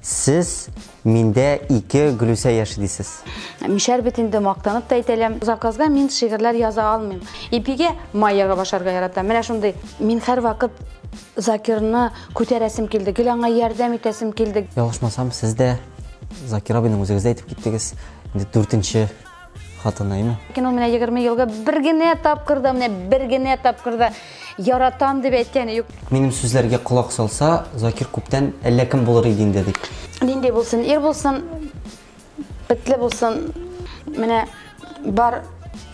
Сез миндә ике Гөлүсә яши дисез. Мишәр бит инде мактанып та әйтәләм. Завказга мин шигырьләр яза алмыйм. Ипигә майяга башарга ярата. Менә шундый. Мин һәрвакыт Закирны күтәрәсем килде, гел аңа ярдәм итәсем килде. Ялгышмасам, сез дә Закир абыйның үзегез дә әйтеп киттегез. Инде дүртенче хатынаймы? Кино менә 20 елга бер генә тапкыр да, менә бер генә тапкыр да яратам дип әйткәне юк. Минем сүзләргә колак салса, Закир күптән әллә кем булыр иде инде дип. Нинди булсын, ир булсын, бетле булсын. Менә бар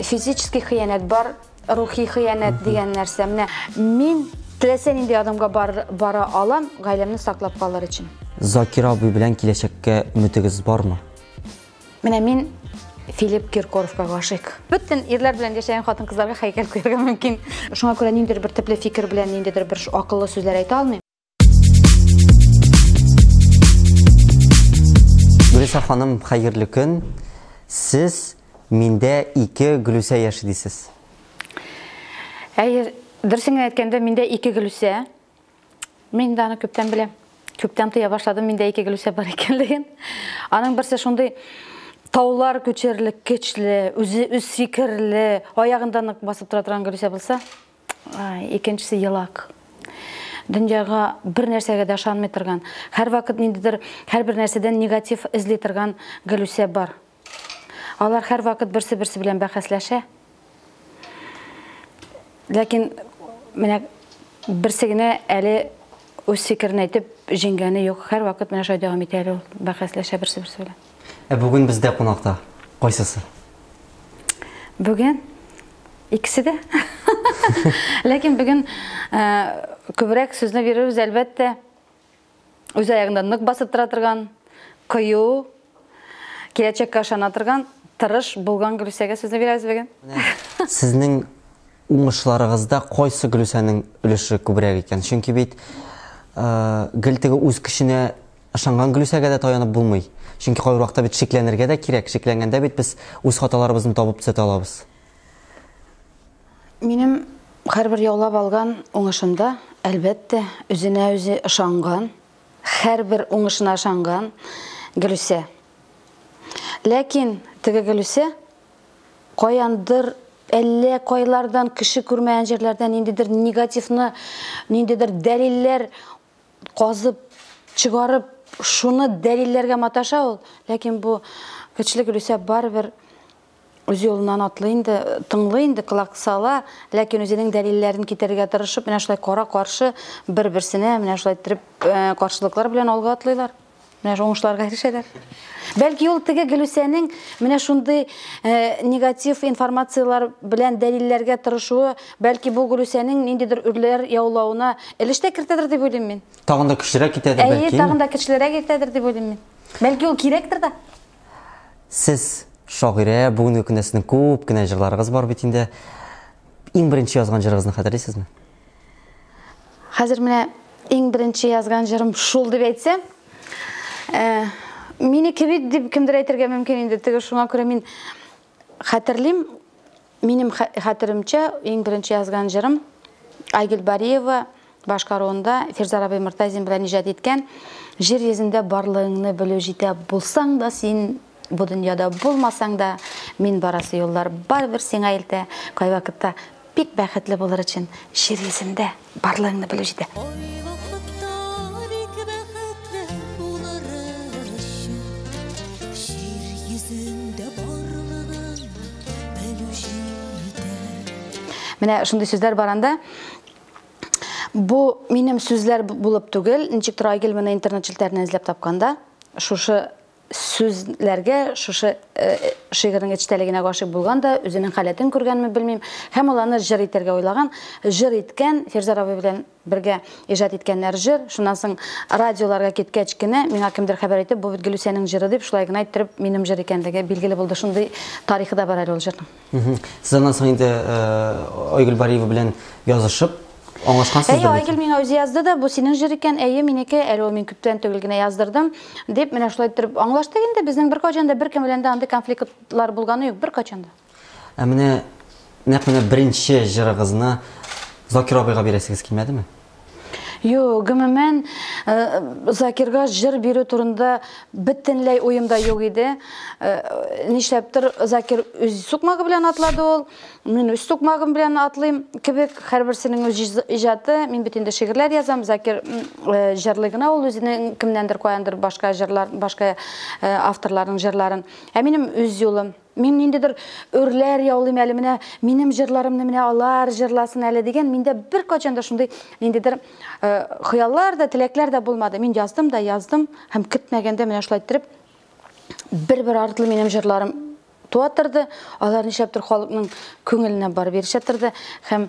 физический хыянәт, бар рухи хыянәт дигән нәрсә. Менә мин теләсә нинди адамга бар, бара алам, гаиләмне саклап калыр өчен. Закир абый белән киләчәккә үмитегез бармы? Менә мин Филипп Киркоровка гашыйк. Бөтен ирләр белән яшәгән хатын-кызларга хәйкәл куярга мөмкин. Шуңа күрә ниндидер бер төпле фикер белән ниндидер бер акыллы сүзләр әйтә алмыйм. Гөлүсә ханым, хәерле көн. Сез миндә ике Гөлүсә яши дисез. Әйе, дөресен генә әйткәндә, миндә ике Гөлүсә. Мин дә аны күптән беләм. Күптән тоя башладым миндә ике гөлүсә бар икәнлеген. Аның берсе шундый таулар күчерлек көчле, үзе үз сикерле, аягында нык басып тора торган гөлүсә булса, икенчесе елак. Дөньяга бер нәрсәгә дә ышанмый торган, һәрвакыт ниндидер һәрбер нәрсәдән негатив эзли торган гөлүсә бар. Алар һәрвакыт берсе-берсе белән бәхәсләшә. Ләкин менә берсе генә әле үз фикерен әйтеп җиңгәне юк. Һәрвакыт менә шулай дәвам итә әле ул бәхәсләшә берсе-берсе белән. Ә бүген бездә кунакта кайсысы? Бүген икесе дә. Ләкин бүген күбрәк сүзне бирербез, әлбәттә, үз аягында нык басып тора торган, кыю, киләчәккә ышана торган, тырыш булган Гөлүсәгә сүзне бирәбез бүген. Сезнең уңышларыгызда кайсы Гөлүсәнең өлеше күбрәк икән? Чөнки бит гел теге үз көченә ышанган Гөлүсәгә дә таянып булмый. Чөнки кайвакытта бит шикләнергә дә кирәк. Шикләнгәндә бит без үз хаталарыбызны табып төзәтә алабыз. Минем һәрбер яулап алган уңышымда, әлбәттә, үзенә үзе ышанган, һәрбер уңышына ышанган Гөлүсә. Ләкин теге Гөлүсә каяндыр әллә кайлардан кеше күрмәгән җирләрдән ниндидер негативны, ниндидер дәлилләр казып, чыгарып, шуны дәлилләргә маташа ул, ләкин бу көчле Гөлүсә барыбер үзе юлыннан атлый инде, тыңлый инде, колак сала, ләкин үзенең дәлилләрен китерергә тырышып, менә шулай кара-каршы бер-берсенә менә шулай иттереп э, каршылыклар белән алга атлыйлар. Менә шул уңышларга ирешәләр. Бәлки ул теге Гөлүсәнең менә шундый э, негатив информацияләр белән дәлилләргә тырышуы, бәлки бу Гөлүсәнең ниндидер үрләр яулауына өлеш тә кертәдер дип уйлыйм мин. Тагын да көчлерәк китәдер Әйе, бәлки. тагын да көчлерәк итәдер дип уйлыйм мин. Бәлки ул кирәктер дә. Сез шагыйрә, бүгенге көндә сезнең күп кенә җырларыгыз бар бит инде. Иң беренче язган җырыгызны хәтерлисезме? Хәзер менә иң беренче язган җырым шул дип әйтсәм, э, минеке бит дип кемдер әйтергә мөмкин инде. Теге шуңа күрә мин Хәтерлим, минем хәтеремчә, иң беренче язган җырым Айгөл Бариева башкаруында Фирзар абый Мортазин белән иҗат иткән Җир йөзендә барлыгыңны белү җитә булсаң да син бу дөньяда булмасаң да мин барасы юллар барыбер сиңа илтә кайвакытта Бик бәхетле булыр өчен җыр йөзендә барлыгыңны белү җитә. Ай вакытта бик бәхетле булыр өчен җир йөзендә барлыгыңны белү җитә. Менә шундый сүзләр бар анда. Бу минем сүзләр булып түгел, ничектер Айгөл моны интернет челтәреннән эзләп тапкан да, шушы сүзләргә шушы э, шигырьнең эчтәлегенә гашыйк булган да үзенең халәтен күргәнме белмим һәм ул аны җыр итәргә уйлаган җыр иткән фирзар абый белән бергә иҗат иткәннәр җыр шуннан соң радиоларга киткәч кенә миңа кемдер хәбәр итеп бу бит гөлүсәнең җыры дип шулай гына иттереп минем җыр икәнлеге билгеле булды шундый тарихы да бар әле ул җырның Сез аннан соң инде э, Айгөл Бариева белән язышып, аңлашкансыз Әйе, Айгөл миңа үзе язды да, бу синең җыр икән, әйе, минеке, әле ул мин күптән түгел генә яздырдым, дип, менә шулай торып аңлаштык инде, безнең бер качан да беркем белән дә андый конфликтлар булганы юк, бер качан да. Ә менә нәкъ менә беренче җырыгызны Закир абыйга бирәсегез килмәдеме? Юк, гомумән, э, Закирга җыр бирү турында бөтенләй уем да юк иде. Э, нишләптер Закир үз сукмагы белән атлады ул, мин үз сукмагым белән атлыйм кебек, һәрберсенең үз иҗаты. Мин бит инде шигырьләр язам, Закир э, җырлый гына ул үзенең кемнәндер каяндыр башка җырлар, башка э, авторларның җырларын. Ә минем үз юлым. Мин ниндидер өрләр яулыйм әле менә, минем җырларымны менә алар җырласын әле дигән, миндә беркайчан да шундый ниндидер э, хыяллар да, теләкләр дә булмады. Мин яздым да яздым һәм көтмәгәндә менә шулай иттереп бер-бер артлы минем җырларым туа торды, алар нишләптер халыкның күңеленә барып ирешә торды һәм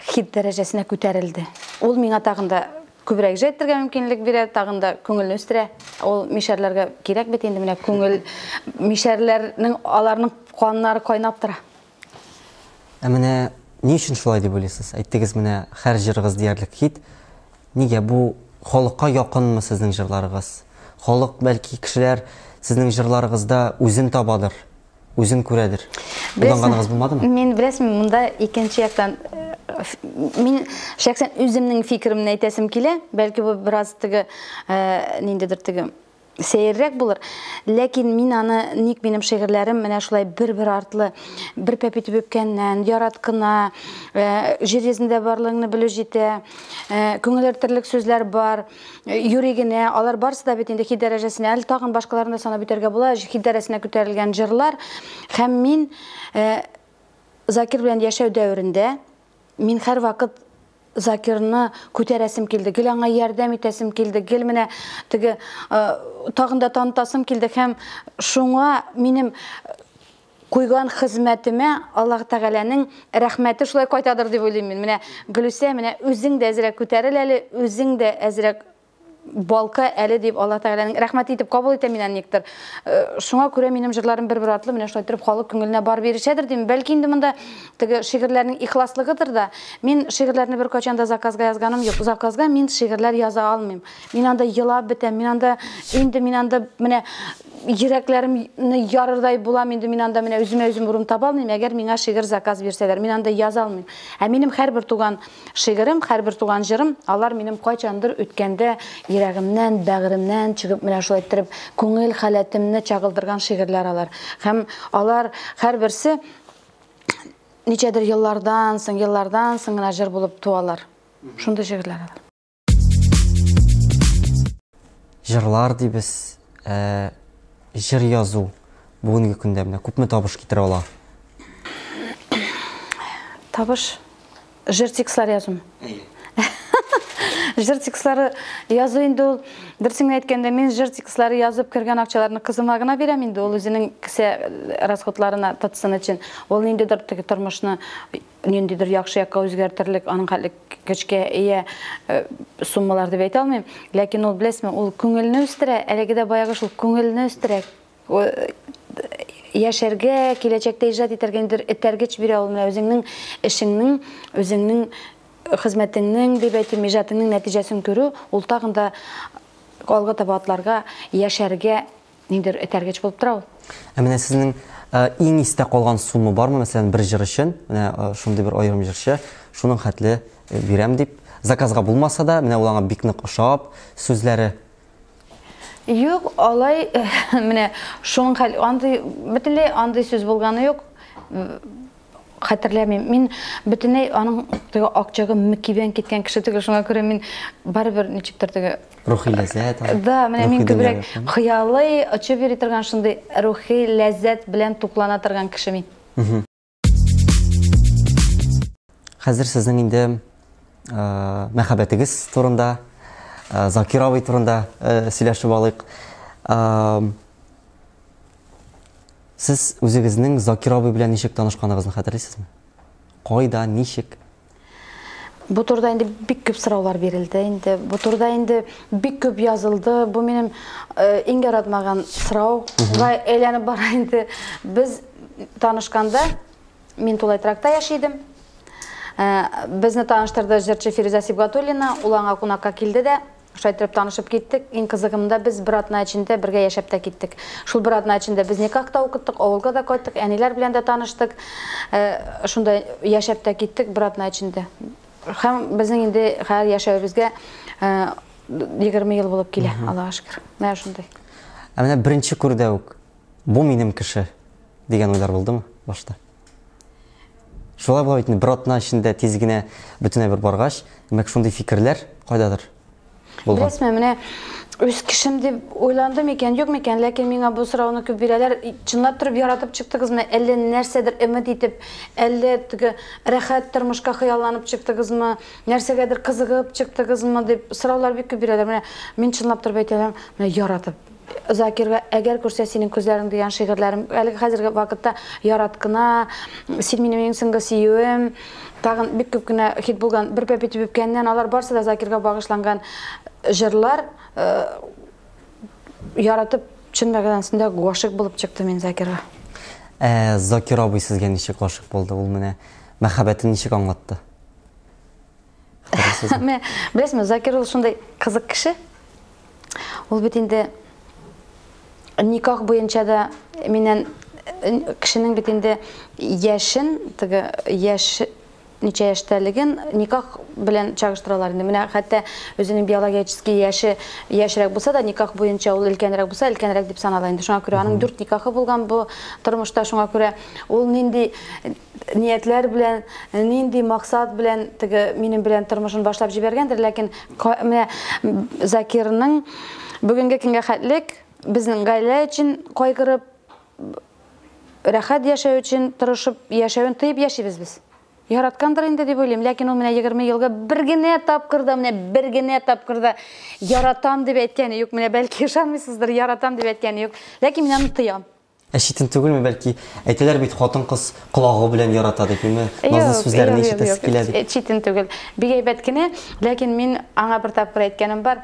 хит дәрәҗәсенә күтәрелде. Ул миңа тагын да күбрәк җыр әйтергә мөмкинлек бирә, тагын да күңелне үстерә. Ул мишәрләргә кирәк бит инде менә күңел мишәрләрнең аларның каннары кайнап тора. Ә менә ни өчен шулай дип уйлыйсыз? Әйттегез менә һәр җырыгыз диярлек хит. Нигә бу халыкка якынмы сезнең җырларыгыз? Халык бәлки кешеләр сезнең җырларыгызда үзен табадыр. Үзең күрәдер. Уйланганыгыз булмадымы? Мин беләсем, монда икенче яктан мин шәхсән үземнең фикеремне әйтәсем килә. Бәлки бу бераз теге э, ниндидер теге сәеррәк булыр. Ләкин мин аны ник минем шигырьләрем менә шулай бер-бер артлы, бер пәпи төбепкәннән, ярат кына, э, җир йөзендә барлыгыңны белү җитә, э, күңел сүзләр бар. юри генә, алар барысы да бит инде хит дәрәҗәсенә, әле тагын башкаларын да санап үтәргә була, хит дәрәсенә күтәрелгән җырлар. Һәм мин э, Закир белән яшәү дәверендә мин һәрвакыт Закирны күтәрәсем килде, гел аңа ярдәм итәсем килде, гел менә теге э, тагын да танытасым килде һәм шуңа минем Куйган хезмәтемә Аллаһ Тәгаләнең рәхмәте шулай кайтадыр дип уйлыйм мин. Менә, Гөлүсә, менә үзең дә әзрәк күтәрел әле, үзең дә әзрәк балкы әле дип Аллаһ Тәгаләнең рәхмәте итеп кабул итәм мин аны никтер. Шуңа күрә минем җырларым бер-бер артлы менә шулай торып халык күңеленә барып ирешәдер дим. Бәлки инде монда теге шигырьләрнең ихласлыгыдыр да. Мин шигырьләрне беркайчан да заказга язганым юк. Заказга мин шигырьләр яза алмыйм. Мин анда елап бетәм. Мин анда, инде мин анда менә йөрәкләремне ярырдай булам инде мин анда менә үземә үзем урын таба алмыйм әгәр миңа шигырь заказ бирсәләр мин анда яза алмыйм ә минем һәрбер туган шигырем һәрбер туган җырым алар минем кайчандыр үткәндә йөрәгемнән бәгыремнән чыгып менә шулай иттереп күңел халәтемне чагылдырган шигырьләр алар һәм алар һәрберсе ничәдер еллардан соң еллардан соң гына җыр булып туалар шундый шигырьләр алар Җырлар дибез, ә, җыр язу бүгенге көндә менә күпме табыш китерә ала? Табыш җыр текстлар язу. Җыр текстлары язу инде ул берсен әйткәндә мин җыр текстлары язып кергән акчаларны кызыма гына бирәм инде ул үзенең кесә расходларына тотсын өчен. Ул ниндидер тормышны ниндидер яхшы якка үзгәртерлек, аның хәтлек көчкә ия э, суммалар дип әйтә алмыйм. Ләкин ул беләсме, ул күңелне үстерә, әлеге дә баягы шул күңелне үстерә. Э, яшәргә, киләчәктә иҗат итәргә ниндидер этәргеч бирә ул менә үзеңнең эшеңнең, үзеңнең хезмәтеңнең, дип әйтим, иҗатыңның нәтиҗәсен күрү, ул тагын да алга таба атларга, яшәргә Нидер этәргеч булып тора ул. Ә менә сезнең иң истә калган сумма бармы, мәсәлән, бер җыр өчен, менә шундый бер аерым җырчы, шуның хәтле бирәм дип, заказга булмаса да, менә ул аңа бик нык ошап, сүзләре Юк, алай, менә шуның хәл, андый, бөтенләй андый сүз булганы юк. Хәтерләмим. Мин бөтенләй аның теге акчагы мөкибән киткән кеше түгел, шуңа күрә мин барыбер ничектер теге Рухи ләззәт. Да, менә мин күбрәк хыялый, очып йөри торган шундый рухи ләззәт белән туклана торган кеше мин. Хәзер сезнең инде мәхәббәтегез турында, Закир абый турында сөйләшеп алыйк. Сез үзегезнең Закир абый белән ничек танышканыгызны хәтерлисезме? Кайда, ничек? Бу турыда инде бик күп сораулар бирелде инде. Бу турыда инде бик күп язылды. Бу минем э, иң яратмаган сорау. Шулай әйләнеп бара инде. Без танышканда мин тулай тракта яши идем. Э, Безне таныштырды җырчы Фирүзә Сибгатуллина. Ул аңа кунакка килде дә, Шулай иттереп танышып киттек. Иң кызыгы монда, без бер атна эчендә бергә яшәп тә киттек. Шул бер атна эчендә без никах та укыттык, авылга да кайттык, әниләр белән дә таныштык. Шунда яшәп тә киттек бер атна эчендә. Һәм безнең инде хәзер яшәвебезгә 20 ел булып килә, Аллага шөкер. Менә шундый. Ә менә беренче күрүдә үк, бу минем кеше, дигән уйлар булдымы башта? Шулай була бит инде, бер атна эчендә тиз генә бөтенләй бер баргач, димәк, шундый фикерләр кайдадыр булган. Беләсезме, менә үз кешем дип уйландым икән, юк микән, ләкин миңа бу сорауны күп бирәләр. Чынлап торып яратып чыктыгызмы, әллә нәрсәдер өмет итеп, әллә теге рәхәт тормышка хыялланып чыктыгызмы, нәрсәгәдер кызыгып чыктыгызмы дип сораулар бик күп бирәләр. Менә мин чынлап торып әйтәләр, менә яратып Закирга Әгәр күрсә синең күзләрең дигән шигырьләрем, әлеге хәзерге вакытта Яраткына, Син минем иң соңгы сөюем, тагын бик күп кенә хит булган Бер пәп итеп үпкәннән, алар барысы да Закирга багышланган җырлар. Яратып, чын мәгънәсендә гашыйк булып чыкты мин Закирга. Ә Закир абый сезгә ничек гашыйк булды, ул менә мәхәббәтен ничек аңлатты? Менә беләсезме, Закир ул шундый кызык кеше. Ул бит инде никах буенча да миннән кешенең бит инде яшен, теге яш ничә яшьтәлеген никах белән чагыштыралар инде. Менә хәтта үзенең биологический яше яшьрәк булса да, никах буенча ул өлкәнрәк булса, өлкәнрәк дип санала инде. Шуңа күрә аның дүрт никахы булган бу тормышта, шуңа күрә ул нинди ниятләр белән, нинди максат белән теге минем белән тормышын башлап җибәргәндер, ләкин менә Закирның бүгенге көнгә хәтлек безнең гаилә өчен кайгырып, рәхәт яшәү өчен тырышып яшәвен тыеп яшибез без. Яраткандыр инде дип уйлыйм, ләкин ул менә 20 елга бер генә тапкыр да, менә бер генә тапкыр да яратам дип әйткәне юк. Менә бәлки ышанмыйсыздыр, яратам дип әйткәне юк. Ләкин мин аны тоям. Ә читен түгелме, бәлки? Әйтәләр бит, хатын-кыз колагы белән ярата дип, юме? Назлы сүзләрне ишетәсе килә дип. Читен түгел. Бик әйбәт кенә, ләкин мин аңа бер тапкыр әйткәнем бар.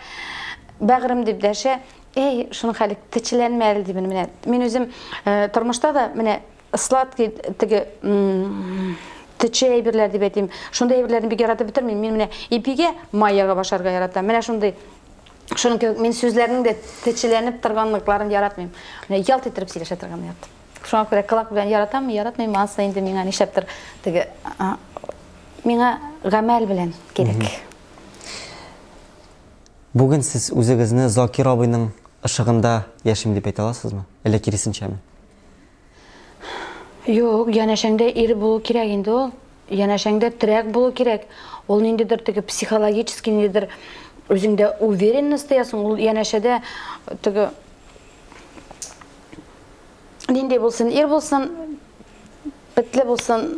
Бәгырем дип дәшә, Эй, шуның хәле, течеләнмә әле димен менә. Мин үзем э, тормышта да менә сладкий теге төче әйберләр дип әйтим. Шундый әйберләрне бик яратып бетермим. Мин менә ипигә май ягып ашарга яратам. Менә шундый Шуның кебек мин сүзләрнең дә течеләнеп торганлыкларын яратмыйм. Менә ялт иттереп сөйләшә торганны яратам. Шуңа күрә кылак белән яратам, яратмыйм, анысы инде миңа нишләптер теге миңа гамәл белән кирәк. Бүген сез үзегезне Закир абыйның ышыгында яшим дип әйтә аласызмы? Әллә киресенчәме? Юк, янәшәңдә ир булу кирәк инде ул. Янәшәңдә терәк булу кирәк. Ул ниндидер теге психологически ниндидер үзеңдә уверенность тоясың. Ул янәшәдә теге нинди булсын, ир булсын, бетле булсын,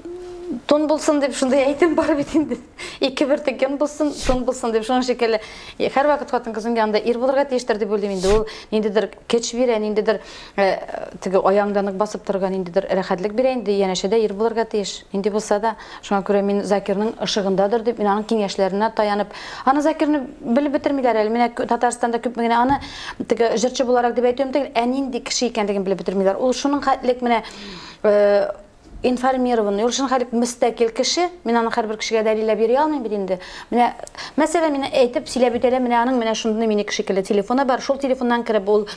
тун булсын дип шундый әйтем бар бит инде. Ике бер текем булсын, тун булсын дип шуның шикелле. Һәрвакыт хатын-кыз янында ир булырга тиештер дип уйлыйм инде. Ул ниндидер көч бирә, ниндидер Ә теге аяңда нык басып торырга ниндидер рәхәтлек бирә инде, янәшә дә ир булырга тиеш. Нинди булса да, шуңа күрә мин Закирның ышыгындадыр дип, мин аның киңәшләренә таянып, аны Закирны белеп бетермиләр әле, менә Татарстанда күпме генә аны теге җырчы буларак дип әйтүем түгел, ә нинди кеше икәнлеген белеп бетермиләр. Ул шуның хәтлек менә информированный, ул чын хәлик мөстәкил кеше, мин аны хәрбер кешегә дәлилләп йөри алмыйм бит инде. Менә мәсәлән, мин әйтеп сөйләп үтәләм, менә аның менә шундый минеке шикелле телефоны бар, шул телефоннан кереп ул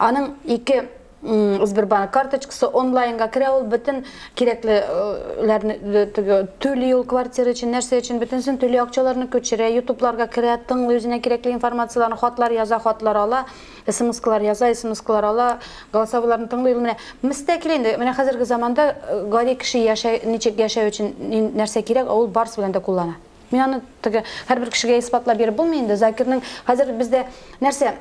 аның ике Сбербанк карточкасы онлайнга керә, ул бөтен кирәклеләрне э, түли ул квартира өчен, нәрсә өчен бөтенсен түли, акчаларны күчерә, ютубларга керә, тыңлый үзенә кирәкле информацияләрне, хатлар яза, хатлар ала. Смскалар яза, смскалар ала, голосовойларны тыңлый ул менә. Мөстәкил инде, менә хәзерге заманда э, гади кеше яшәй, ничек яшәү өчен нәрсә кирәк, ул барысы белән дә куллана. Мин аны теге һәрбер кешегә исбатлап биреп булмый инде. Закирның хәзер бездә нәрсә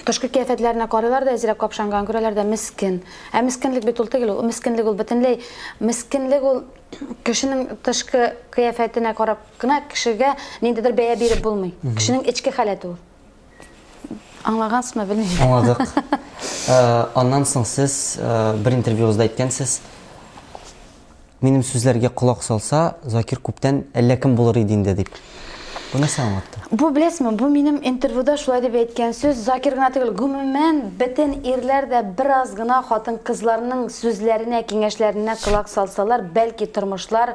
Тышкы кияфәтләренә карыйлар да әзрәк капшанган күрәләр дә мескин. Ә мескинлек бит ул түгел, ул мескинлек ул бөтенләй мескинлек ул кешенең тышкы кыяфәтенә карап кына кешегә ниндидер бәя биреп булмый. Кешенең эчке халәте ул. Аңлагансызмы, белмим. Аңладык. Аннан соң сез бер интервьюгызда әйткәнсез, минем сүзләргә колак салса, Закир күптән әллә кем булыр иде инде дип. Бу нәрсә аңлатты? Бу беләсезме, бу минем интервьюда шулай дип әйткән сүз, Закир гына түгел, гомумән бөтен ирләр дә бераз гына хатын-кызларның сүзләренә, киңәшләренә колак салсалар, бәлки тормышлар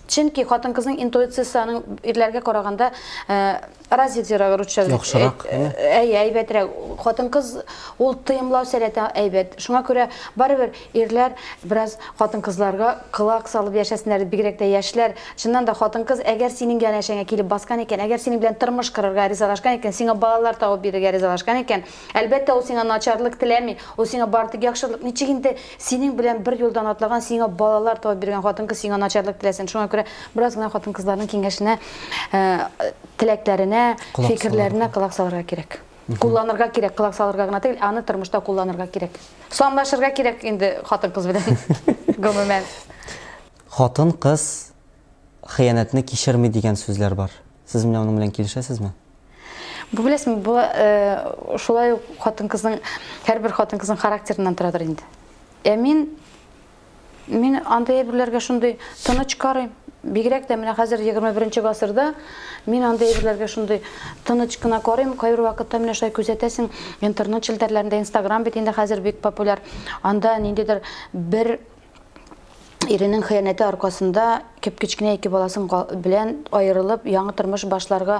Чөнки хатын-кызның интуициясе аның ирләргә караганда развитиерак русча. Яхшырак, әйе, әйбәтрәк. Хатын-кыз ул тыемлау сәләте әйбәт. Шуңа күрә барыбер ирләр бераз хатын-кызларга колак салып яшәсеннәр, бигрәк тә яшьләр. Чыннан да хатын-кыз әгәр синең янәшәңә килеп баскан икән, әгәр синең белән тормыш корырга ризалашкан икән, сиңа балалар табып бирергә ризалашкан икән, Әлбәттә, ул сиңа начарлык теләми, ул сиңа бары тик яхшылык. Ничек инде синең белән бер юлдан атлаган, сиңа балалар табып биргән хатын-кыз сиңа начарлык теләсен? Шуңа күрә бераз гына хатын-кызларның киңәшенә, теләкләренә, фикерләренә колак салырга кирәк. Кулланырга кирәк, колак салырга гына түгел, аны тормышта кулланырга кирәк. Санлашырга кирәк инде хатын-кыз белән, гомумән. Хатын-кыз хыянәтне кичерми дигән сүзләр бар. Сез менә аның белән килешәсезме? Бу беләсезме, бу шулай ук хатын-кызның һәрбер хатын-кызның характерыннан торадыр инде. Ә мин мин андый әйберләргә шундый тыныч карыйм. Бигрәк тә менә хәзер 21 гасырда мин андый әйберләргә шундый тыныч кына карыйм. Кайбер вакытта менә шулай күзәтәсең, интернет челтәрләрендә, Instagram бит инде хәзер бик популяр. Анда ниндидер бер Иренең хыянәте аркасында кеп-кечкенә ике баласын белән аерылып, яңа тормыш башларга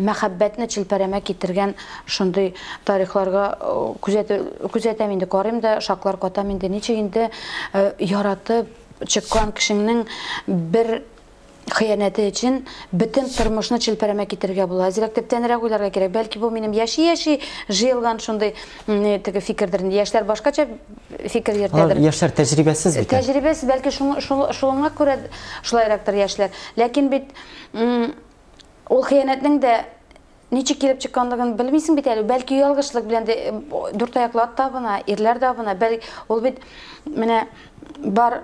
мәхәббәтне челпәрәмә китергән шундый тарихларга күзәтәм инде, карыйм да, шаклар катам инде. Ничек инде яратып чыккан кешеңнең бер хыянәте өчен бөтен тормышны челпәрәмә китерергә була. Әзрәк төптәнрәк уйларга кирәк. Бәлки бу минем яши-яши җыелган шундый теге фикердер инде. Яшьләр башкача фикер йөртәдер. Яшьләр тәҗрибәсез бит. Тәҗрибәсез, бәлки шуңа күрә шулайрактыр яшьләр. Ләкин бит ул хыянәтнең дә ничек килеп чыкканлыгын белмисең бит әле. Бәлки ялгышлык белән дә дүрт аяклы ат табына, ирләр табына. Бәлки ул бит менә бар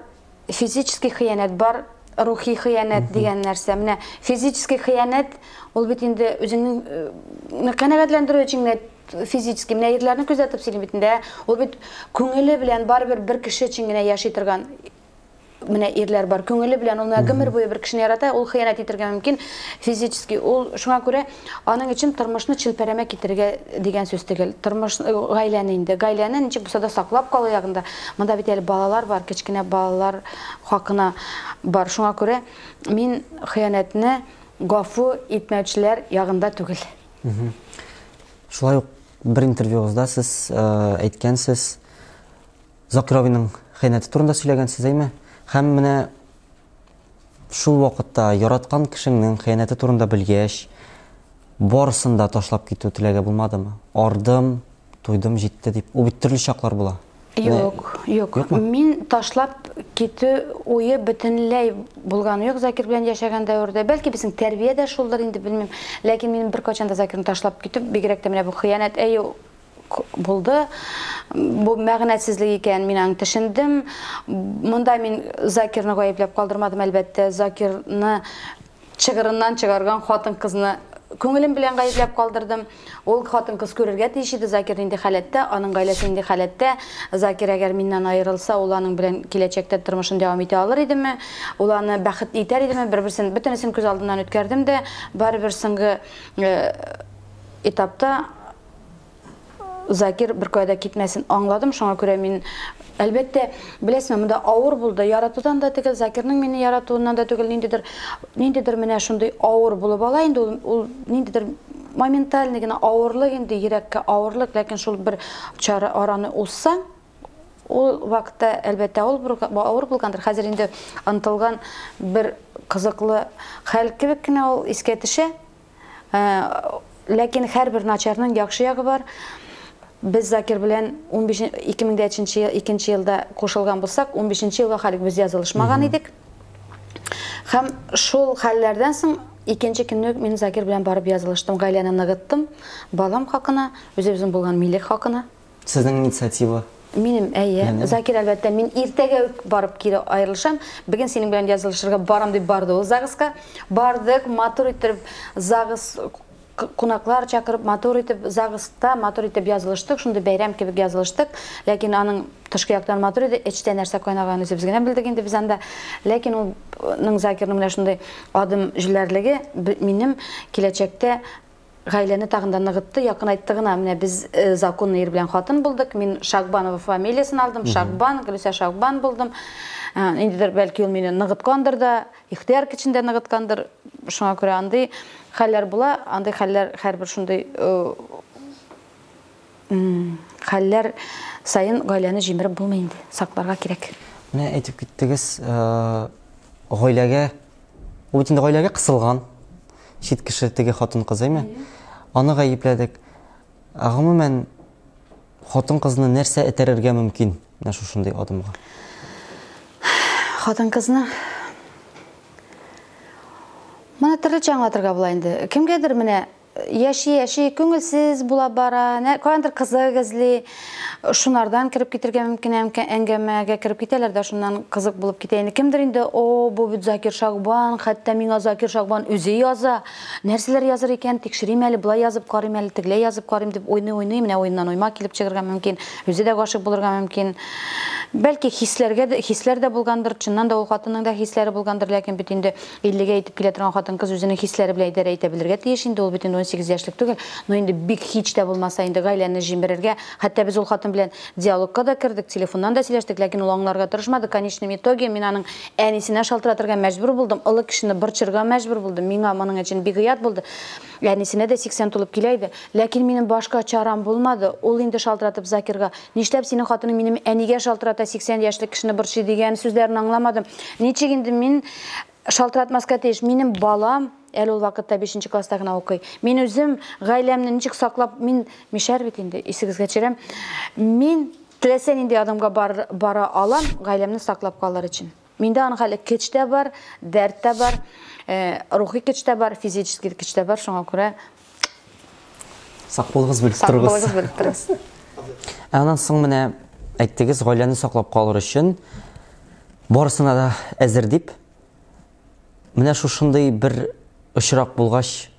физический хыянәт бар, рухи хыянәт дигән нәрсә. Менә физический хыянәт ул бит инде үзеңнең э, канәгатьләндерү өчен генә физически менә ирләрне күзәтеп сөйлим бит инде ул бит күңеле белән барыбер бер кеше өчен генә яши торган менә ирләр бар күңеле белән ул менә гомер буе бер кешене ярата ул хыянәт итергә мөмкин физически ул шуңа күрә Аның өчен тормышны челпәрәмә китерергә дигән сүз төгәл. Тормыш гаиләне инде. Гаиләне ничек булса да саклап калу ягында. Монда бит әле балалар бар, кечкенә балалар хакына бар. Шуңа күрә мин хыянәтне гафу итмәүчеләр ягында түгел. Шулай ук бер интервьюгызда сез әйткәнсез, Закировиның хыянәте турында сөйләгәнсез, әйме? Һәм менә Шул вакытта яраткан кешеңнең хыянәте турында белгәч, барысын да ташлап китү теләге булмадымы? Ардым, туйдым, җитте дип. Ул бит төрле чаклар була. Юк, юк. Мин ташлап китү уе бөтенләй булганы юк Закир белән яшәгән дәвердә. Бәлки безнең тәрбия дә шулдыр инде, белмим. Ләкин мин беркайчан да Закирны ташлап китү, бигрәк тә менә бу хыянәт, әйе, булды. Бу мәгънәсезлек икән, мин аны төшендем. Монда мин Закирны гаепләп калдырмадым, әлбәттә, Закирны чыгырыннан чыгарган хатын-кызны күңелем белән гаепләп калдырдым. Ул хатын-кыз күрергә тиеш иде, Закир нинди халәттә, аның гаиләсе нинди халәттә. Закир әгәр миннән аерылса, ул аның белән киләчәктә тормышын дәвам итә алыр идеме? Ул аны бәхетле итәр идеме? Бер-берсен, бөтенесен күз алдыннан үткәрдем дә, барыбер соңгы этапта Закир беркая да китмәсен аңладым, шуңа күрә мин әлбәттә, беләсезме, монда авыр булды. Яратудан да түгел, Закирның мине яратуыннан да түгел, ниндидер ниндидер менә шундый авыр булып ала инде ул, ул ниндидер моментальный гына авырлык инде, йөрәккә авырлык, ләкин шул бер чара араны узса, ул вакытта әлбәттә авыр авыр булгандыр. Хәзер инде ынтылган бер кызыклы хәл кебек кенә ул искә төшә. Ләкин һәрбер начарның яхшы ягы бар. Без Закир белән 15 2003 ел 2 елда кушылган булсак, 15 елга халик без язылышмаган идек. Һәм шул хәлләрдән соң икенче көнне мин Закир белән барып язылыштым, гаиләне ныгыттым, балам хакына, үзебезнең булган милек хакына. Сезнең инициатива. Минем, әйе. Закир, әлбәттә, мин иртәгә үк барып кире аерылышам. Бүген синең белән язылышырга барам дип барды ул ЗАГСка. Бардык, матур итеп ЗАГС кунаклар чакырып, матур итеп ЗАГСта матур итеп язылыштык. Шундый бәйрәм кебек язылыштык. Ләкин аның тышкы яктан матур иде, эчтә нәрсә кайнаганын үзебез генә белдек инде без анда. Ләкин ул Закирның менә шундый адым җилләрлеге минем киләчәктә Гаиләне тагын да ныгытты, якынайтты гына. Менә без законный ир белән хатын булдык. Мин Шагбанова фамилиясен алдым. Шагбан, Гөлүсә Шагбан булдым. Ниндидер, бәлки ул мине ныгыткандыр да, ихтыяр көчен дә ныгыткандыр. Шуңа күрә андый хәлләр була, андый хәлләр һәрбер шундый Хәлләр саен гаиләне җимереп булмый инде, сакларга кирәк. Менә әйтеп киттегез, гаиләгә, ул бит инде гаиләгә кысылган, чит кеше теге хатын-кыз, әйме? Аны гаепләдек. Ә гомумән, хатын-кызны нәрсә этәрергә мөмкин менә шушындый адымга? Хатын-кызны Моны төрлечә аңлатырга була инде. Кемгәдер менә Яши-яши күңелсез була бара, каяндыр кызык эзли, шунардан кереп китергә мөмкин әңгәмәгә кереп китәләр дә шуннан кызык булып китә инде. Кемдер инде, о, бу бит Закир Шагбан, хәтта миңа Закир Шагбан үзе яза, нәрсәләр языр икән, тикшерим әле, болай язып карыйм әле, тегеләй язып карыйм дип уйный-уйный, менә уеннан уйма килеп чыгырга мөмкин, үзе дә гашыйк булырга мөмкин. Бәлки хисләргә, хисләр дә булгандыр, чыннан да ул хатынның да хисләре булгандыр, ләкин бит инде Иллегә итеп килә торган хатын-кыз үзенең хисләре белән идарә итә белергә тиеш инде, ул бит инде унсигез яшьлек түгел. Но инде бик һич тә булмаса инде гаиләне җимерергә, хәтта без ул хатын белән диалогка да кердек, телефоннан да сөйләштек, ләкин ул аңларга тырышмады, конечном итоге мин аның әнисенә шалтыратырга мәҗбүр булдым, олы кешене борчырга мәҗбүр булдым, миңа моның өчен бигоят булды. Әнисенә дә 80 тулып килә иде. Ләкин минем башка чарам булмады. Ул инде шалтыратып Закирга, Нишләп синең хатының минем әнигә шалтырата, 80 яшьлек кешене борчый, дигән сүзләрен аңламадым. Ничек инде мин шалтыратмаска тиеш? Минем балам әле ул вакытта бишенче класста гына укый. Мин үзем гаиләмне ничек саклап, мин мишәр бит инде, исегезгә төшерәм. Мин теләсә нинди адымга бара алам, гаиләмне саклап калыр өчен. Миндә аның хәле көч тә бар, дәрт тә бар, э, рухи көч тә бар, физический көч тә бар, шуңа күрә Сак булыгыз, белеп сак торыгыз. булыгыз, белеп торыгыз. Ә аннан соң менә әйттегез, гаиләне саклап калыр өчен барысына да әзер дип. Менә шушындый бер очрак булгач,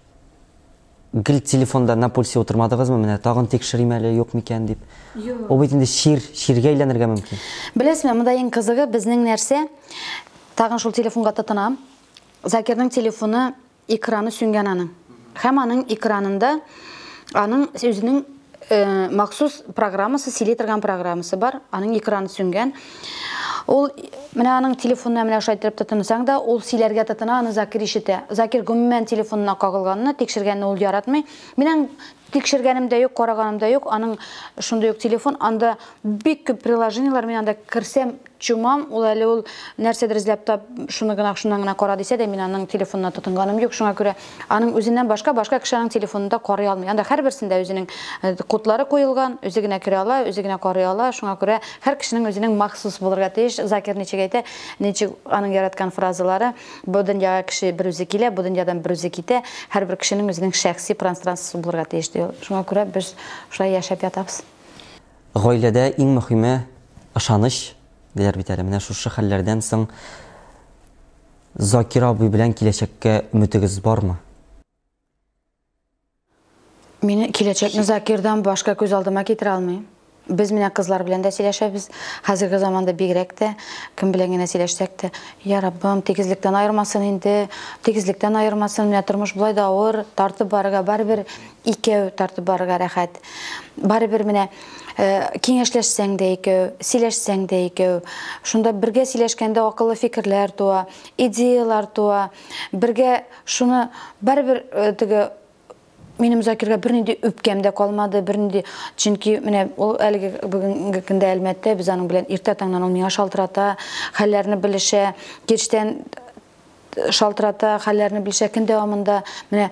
Гел телефонда на пульсе утырмадыгызмы? Менә тагын тикшерим әле, юк микән дип. Юк. Ул бит инде чир, чиргә әйләнергә мөмкин. Беләсезме, монда иң кызыгы безнең нәрсә? Тагын шул телефонга тотынам. Закирның телефоны экраны сүнгән аның. Һәм аның экранында аның үзенең махсус программасы, селитрган программасы бар, аның экраны сүнгән. Ул, менә аның телефонына менә шулай итеп тотынсаң да, ул сөйләргә тотына, аны Закир ишетә. Закир гомумән телефонына кагылганны, тикшергәнне ул яратмый. Минем тикшергәнем дә юк, караганым да юк, аның шундый ук телефон, анда бик күп приложениелар, мин анда керсәм, Чумам, ул әле ул нәрсәдер эзләп тап, шуны гына, шуннан гына кара дисә дә, мин аның телефонына тотынганым юк, шуңа күрә аның үзеннән башка, башка кешенең телефонында карый алмый. Анда һәрберсендә үзенең э, кодлары куелган, үзе генә керә ала, үзе генә карый ала, шуңа күрә һәр кешенең үзенең махсус булырга тиеш. Закир ничек әйтә, ничек аның яраткан фразалары, бу дөньяга кеше бер үзе килә, бу дөньядан бер үзе китә, һәрбер кешенең үзенең шәхси пространствосы булырга тиеш, ди ул. Шуңа күрә без шулай яшәп ятабыз. Гаиләдә иң мөхиме, ышаныч, диләр бит әле. Менә шушы хәлләрдән соң Закир абый белән киләчәккә өметегез бармы? Мин киләчәкне Закирдан башка күз алдыма китерә алмыйм. Без менә кызлар белән дә сөйләшәбез. Хәзерге заманда бигрәк тә кем белән генә сөйләшсәк тә, я Раббым, тигезлектән аермасын инде, тигезлектән аермасын, менә тормыш болай да авыр, тартып барырга барыбер Икәү тартып барырга рәхәт. Барыбер менә киңәшләшсәң дә икәү, сөйләшсәң дә икәү. Шунда бергә сөйләшкәндә акыллы фикерләр туа, идеялар туа. Бергә шуны барыбер теге минем Закирга бернинди үпкәм дә калмады, бернинди, чөнки менә ул әлеге бүгенге көндә Әлмәттә, без аның белән иртә таңнан ул миңа шалтырата, хәлләрне белешә, кичтән шалтырата, хәлләрне белешә, көн дәвамында менә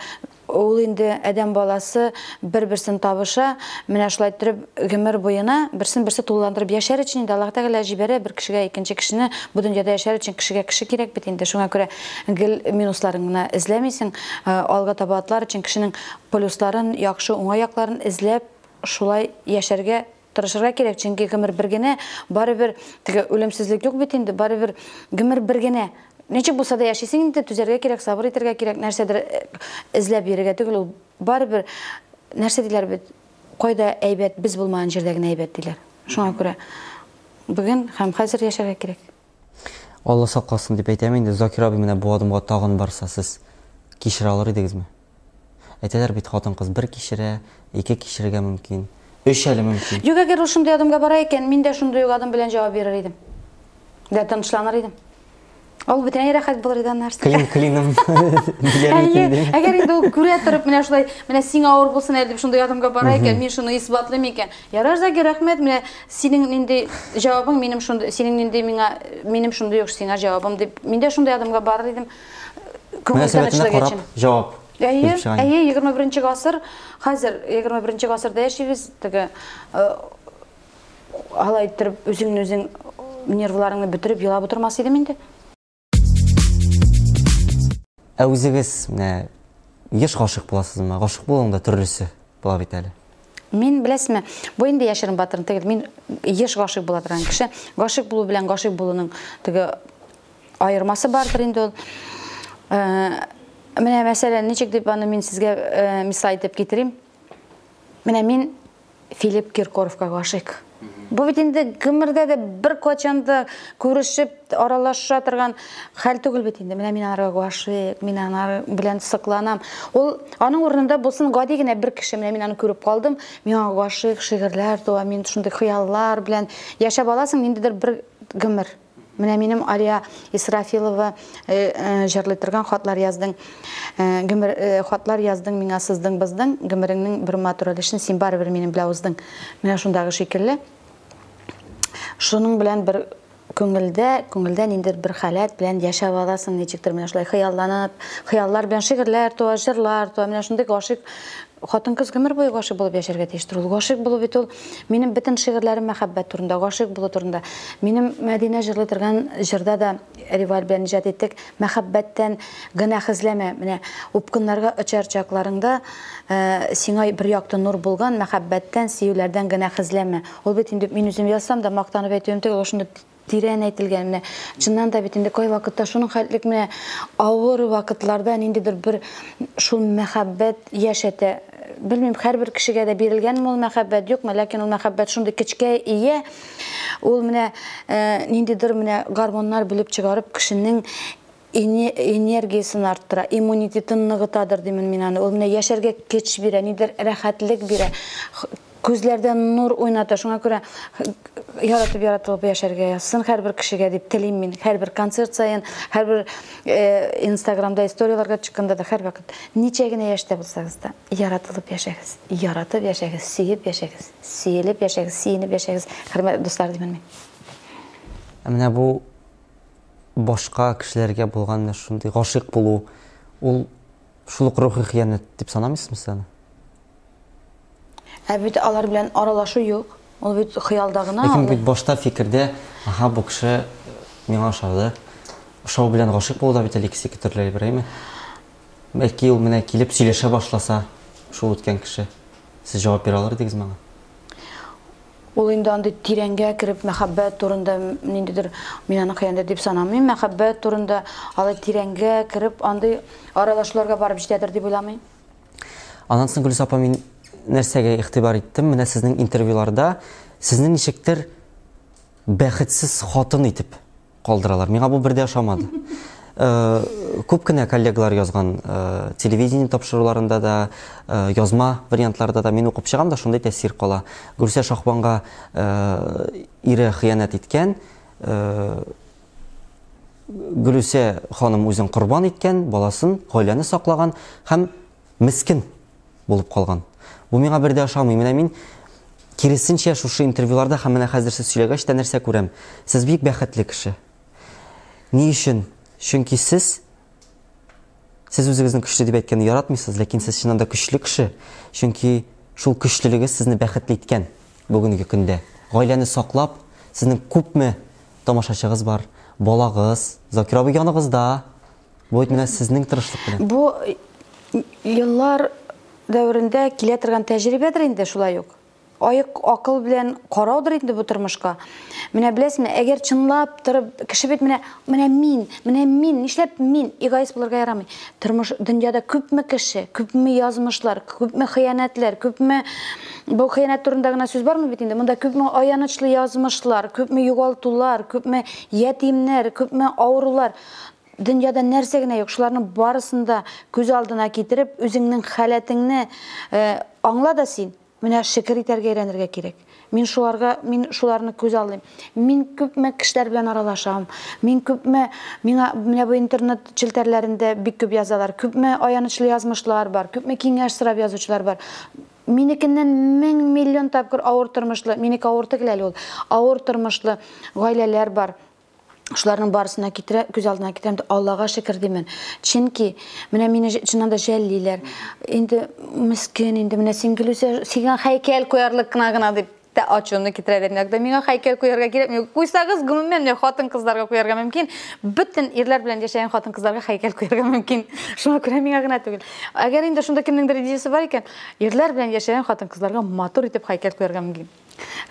Ул инде адәм баласы бер-берсен табыша, менә шулай иттереп гомер буена берсен-берсе тулыландырып яшәр өчен инде Аллаһ Тәгалә җибәрә бер кешегә икенче кешене, бу дөньяда яшәр өчен кешегә кеше кирәк бит инде, шуңа күрә гел минусларын гына эзләмисең, алга таба атлар өчен кешенең плюсларын, яхшы, уңай якларын эзләп шулай яшәргә Тырышырга кирәк, чөнки гомер бер генә, барыбер теге үлемсезлек юк бит инде, барыбер гомер бер генә. Ничек булса да яшисең инде, түзәргә кирәк, сабыр итәргә кирәк, нәрсәдер э, эзләп йөрергә түгел, ул барыбер нәрсә диләр бит, кайда әйбәт, без булмаган җирдә генә әйбәт диләр. Шуңа күрә бүген һәм хәзер яшәргә кирәк. Алла сакласын дип әйтәм инде, Закир абый менә бу адымга тагын барса, сез кичерә алыр идегезме? Әйтәләр бит, хатын-кыз бер кичерә, ике кичерергә мөмкин, өч әле мөмкин. Юк, әгәр ул шундый адымга бара икән, мин дә шундый ук адым белән җавап бирер идем. Дә тынычланыр идем. Ул бөтенләй рәхәт булыр иде аннары. Клин клиным диләр микән ди. Әгәр инде ул күрә торып менә шулай, менә сиңа авыр булсын әле дип шундый адымга бара икән, мин шуны исбатлыйм икән. Ярар, Закир, рәхмәт, менә Синең нинди җавабың минем шундый, синең нинди миңа, минем шундый ук сиңа җавабым дип. Мин дә шундый адымга барыр идем. Күңел тынычлыгы өчен. Җавап. Әйе, әйе, 21 гасыр, хәзер 21 гасырда яшибез, теге алай иттереп үзеңне үзең нервларыңны бетереп елап утырмас идем инде. Ә үзегез менә еш гашык буласызмы? Гашык булуның да төрлесе була бит әле. Мин беләсме, бу инде яшерен батырын түгел, мин еш гашык була торган кеше. Гашык булу белән гашык булуның теге аермасы бардыр инде ул. Э, менә мәсәлән, ничек дип аны мин сезгә э, мисал итеп китерим? Менә мин Филипп Киркоровка гашыйк. Бу бит инде гомердә дә бер качан да күрешеп, аралаша торган хәл түгел бит инде. Менә мин анарга гашыйк, мин анар белән сыкланам. Ул аның урынында булсын гади генә бер кеше, менә мин аны күреп калдым, миңа гашыйк, шигырьләр туа, мин шундый хыяллар белән яшәп аласың ниндидер бер гомер. Менә минем Алия Исрафилова э, э, җырлый торган хатлар яздың. Э, гомер хатлар яздың миңа сыздың быздың, гомереңнең бер матур өлешен син барыбер минем белән уздың. Менә шундагы шикелле. Шуның белән бер күңелдә, күңелдә ниндер бер халәт белән яшәп аласың, ничектер менә шулай хыялланып, хыяллар белән шигырьләр туа, җырлар туа, менә шундый гашыйк Хатын-кыз гомер буе гашыйк булып яшәргә тиештер. Ул гашыйк булу бит ул. Минем бөтен шигырьләрем мәхәббәт турында, гашыйк булу турында. Минем Мәдинә җырлый торган җырда да Реваль белән иҗат иттек. Мәхәббәттән гөнаһэзләмә, менә упкыннарга очар чакларыңда, сиңа бер якты нур булган мәхәббәттән, сөюләрдән гөнаһэзләмә. Ул бит инде мин үзем язсам да мактанып әйтүем түгел, ул шундый Тирән әйтелгән, менә чыннан да бит инде кайвакытта шуның хәтлек менә авыр вакытларда ниндидер бер шул мәхәббәт яшәтә. Белмим, һәрбер кешегә дә бирелгәнме ул мәхәббәт, юкмы, ләкин ул мәхәббәт шундый көчкә ия, ул менә ниндидер менә гормоннар бүлеп чыгарып кешенең энергиясен арттыра, иммунитетын ныгытадыр димен мин аны. Ул менә яшәргә көч бирә, нидер рәхәтлек бирә. Күзләрдә нур уйната. Шуңа күрә яратып яратылып яшәргә язсын һәрбер кешегә дип телим мин. Һәрбер концерт саен, һәрбер э, Инстаграмда историяләргә төшкәндә дә һәрвакыт ничә генә яшьтә булсагыз да, яратылып яшәгез. Яратып яшәгез, сөеп яшәгез, сөелеп яшәгез, сөенеп яшәгез. Хөрмәтле дуслар димен мин. Ә менә бу башка кешеләргә булган менә шундый гашыйк булу, ул шул ук рухи хыянәт дип санамыйсызмы сез аны? Ә бит алар белән аралашу юк. Ул бит хыялда гына. Ләкин бит башта фикердә, аха, бу кеше миңа ошады. Ошау белән гашыйк булу да бит әле икесе ике төрле әйбер, әйме? Бәлки ул менә килеп сөйләшә башласа, шул үткән кеше. Сез җавап бирә алыр идегез миңа? Ул инде андый тирәнгә кереп мәхәббәт турында ниндидер, мин аны хыянәт дип санамыйм, мәхәббәт турында алай тирәнгә кереп андый аралашуларга барып җитәдер дип уйламыйм. Аннан соң Гөлүс апа мин нәрсәгә игътибар иттем, менә сезнең интервьюларда сезне ничектер бәхетсез хатын итеп Калдыралар. Миңа бу бер дә ошамады. Күп кенә коллегалар язган телевидение тапшыруларында да, язма вариантларда да мин укып чыгам да шундый тәэсир кала. Гүрсә Шахбанга ире хыянәт иткән, Гүрсә ханым үзен корбан иткән, баласын, гаиләне саклаган һәм мескен булып калган. Бу миңа бер дә ошамый. Менә мин, киресенчә, шушы интервьюларда һәм менә хәзер сез сөйләгәч тә нәрсә күрәм? Сез бик бәхетле кеше. Ни өчен? Чөнки сез Сез үзегезнең көчле дип әйткәнне яратмыйсыз, ләкин сез чыннан да көчле кеше, чөнки шул көчлелегез сезне бәхетле иткән бүгенге көндә. Гаиләне саклап, сезнең күпме тамашачыгыз бар, балагыз, Закир абый яныгызда, Бу бит менә сезнең тырышлык белән. Бу еллар дәверендә килә торган тәҗрибәдер инде шулай ук. Аек акыл белән караудыр инде бу тормышка. Менә беләсезме, әгәр чынлап торып, кеше бит менә, менә мин, менә мин, нишләп мин эгоист булырга ярамый. Тормыш дөньяда күпме кеше, күпме язмышлар, күпме хыянәтләр, күпме бу хыянәт турында гына сүз бармы бит инде? Монда күпме аянычлы язмышлар, күпме югалтулар, күпме ятимнәр, күпме авырулар. Дөньяда нәрсә генә юк, шуларның барысын да күз алдына китереп, үзеңнең халәтеңне э, аңла да син, менә шөкер итәргә өйрәнергә кирәк. Мин шуларга, мин шуларны күз алдым. Мин күпме кешеләр белән аралашам. Мин күпме миңа менә бу интернет челтәрләрендә бик күп язалар. Күпме аянычлы язмышлар бар, күпме киңәш сорап язучылар бар. Минекеннән мең миллион тапкыр авыр тормышлы, минеке авыр түгел әле ул. Авыр тормышлы гаиләләр бар. Шуларның барысына китерә, күз алдына китерәм, Аллага шөкер димен. Чөнки менә мине чыннан да жәллиләр. Инде мискен, инде менә син Гөлүсә, сиңа хәйкәл куярлык кына гына дип тә ачуны китерә бер иногда. Миңа хәйкәл куярга кирәкми. Куйсагыз, гомумән, менә хатын-кызларга куярга мөмкин. Бөтен ирләр белән яшәгән хатын-кызларга хәйкәл куярга мөмкин. Шуңа күрә миңа гына түгел. Әгәр инде шунда кемнеңдер идеясе бар икән, ирләр белән яшәгән хатын-кызларга матур итеп хәйкәл куярга мөмкин.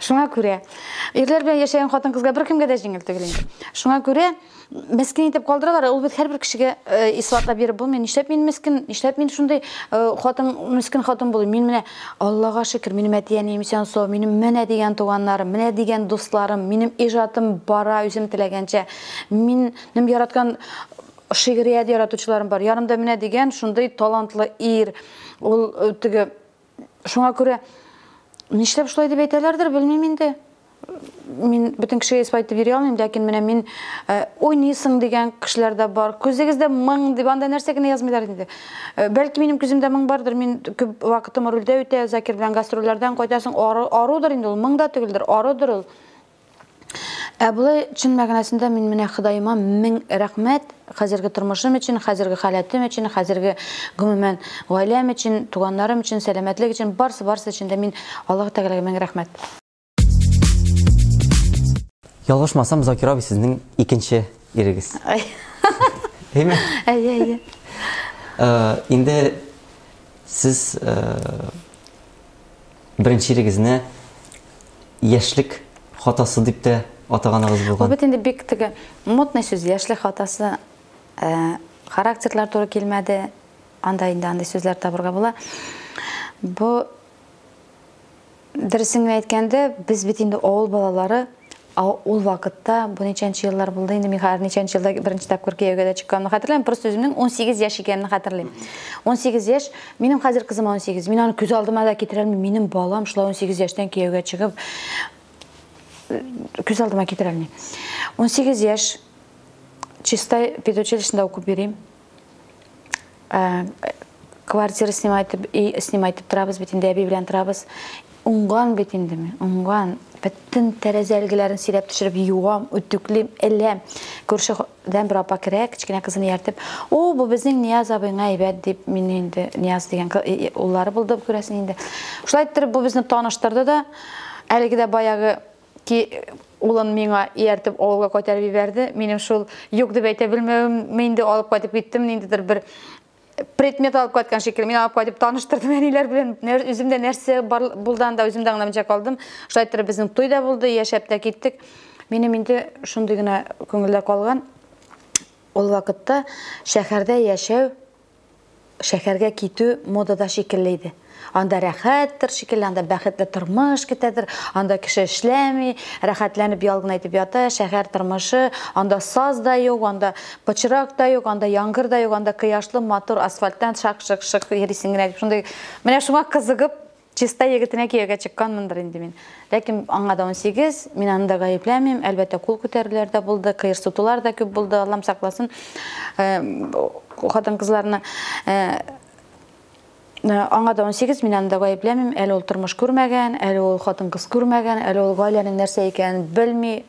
Шуңа күрә ирләр белән яшәгән хатын-кызга беркемгә дә җиңел түгел инде. Шуңа күрә мескен итеп калдыралар, ул бит һәрбер кешегә э, исбатлап биреп булмый. Нишләп мин мескен, нишләп мин шундый э, хатын, мескен хатын булыйм? Мин менә Аллага шөкер, минем әти-әнием исән сау, минем менә дигән туганнарым, менә дигән дусларым, минем иҗатым бара үзем теләгәнчә. Минем яраткан шигърият яратучыларым бар. Ярымда менә дигән шундый талантлы ир, ул э, теге Шуңа күрә нишләп шулай дип әйтәләрдер, белмим инде. Мин бөтен кешегә исбат итеп йөри алмыйм, ләкин менә мин э, уйныйсың дигән кешеләр дә бар. Күзегездә моң дип анда нәрсә генә язмыйлар инде. Э, бәлки минем күземдә моң бардыр, мин күп вакытым рульдә үтә, Закир белән гастрольләрдән кайтасың, ару, арудыр инде ул, моң да түгелдер, арудыр ул. Ә болай чын мәгънәсендә мин менә Ходаема мең рәхмәт, хәзерге тормышым өчен, хәзерге халәтем өчен, хәзерге гомумән гаиләм өчен, туганнарым өчен, сәламәтлек өчен, барсы барсы өчен дә мин Аллаһы Тәгаләгә мең рәхмәт. Ялгышмасам, Закир абый сезнең икенче ирегез. Әйме? Әйе, әйе. Инде сез Беренчелегезне яшьлек хатасы дип тә атаганыгыз булган. Бу бит инде бик теге модный сүз, яшьлек хатасы. Э, характерлар туры килмәде. Анда инде андый сүзләр табырга була. Бу дөресен әйткәндә, без бит инде авыл балалары. А ул вакытта бу ничәнче еллар булды инде, мин хәзер ничәнче елда беренче тапкыр кияүгә дә чыкканны хәтерләмим, просто үземнең 18 яшь икәнне хәтерлим. 18 яшь, минем хәзер кызым 18, мин аны күз алдыма да китерә алмыйм, минем балам шулай 18 яшьтән кияүгә чыгып, күз алдыма китерә алмыйм. 18 яшь, чистай педучилищенда укып йөрим. Э, квартира снимайтып, и снимайтып торабыз бит инде, әби белән торабыз. Уңган бит инде мин, уңган. Бөтен тәрәзә әлгеләрен сирәп төшереп юам, үтүклим, эләм. Күршедән бер апа керә, кечкенә кызын ияртеп, "О, бу безнең Нияз абыйңа әйбәт" дип, мин инде Нияз дигән уллары булды күрәсең инде. Шулай иттереп бу безне таныштырды да, әлеге дә баягы ки, улын миңа ияртеп авылга кайтарып җибәрде. Минем шул юк дип әйтә белмәвемме инде алып кайтып киттем, ниндидер бер предмет алып кайткан шикелле. Мин алып кайтып таныштырдым әниләр белән. Үзем дә нәрсә булды анда, үзем дә аңламыйча калдым. Шулай иттереп безнең туй да булды, яшәп тә киттек. Минем инде шундый гына күңелдә калган, ул вакытта шәһәрдә яшәү Шәһәргә китү модада шикелле иде. Анда рәхәттер шикелле, анда бәхетле тормыш көтәдер, анда кеше эшләми, рәхәтләнеп ял гына итеп ята, шәһәр тормышы, анда саз да юк, анда пычрак та юк, анда яңгыр да юк, анда кояшлы, матур асфальттан шак-шык-шык йөрисең генә дип, шундый, менә шуңа кызыгып, Чистай егетенә кияүгә чыкканмындыр инде мин. Ләкин аңа да унсигез, мин аны да гаепләмим. Әлбәттә, кул күтәрүләр дә булды, кыерсытулар да күп булды, Аллам сакласын хатын-кызларны. Аңа да унсигез, мин аны да гаепләмим. Әле ул тормыш күрмәгән, әле ул хатын-кыз күрмәгән, әле ул гаиләнең нәрсә икәнен белми,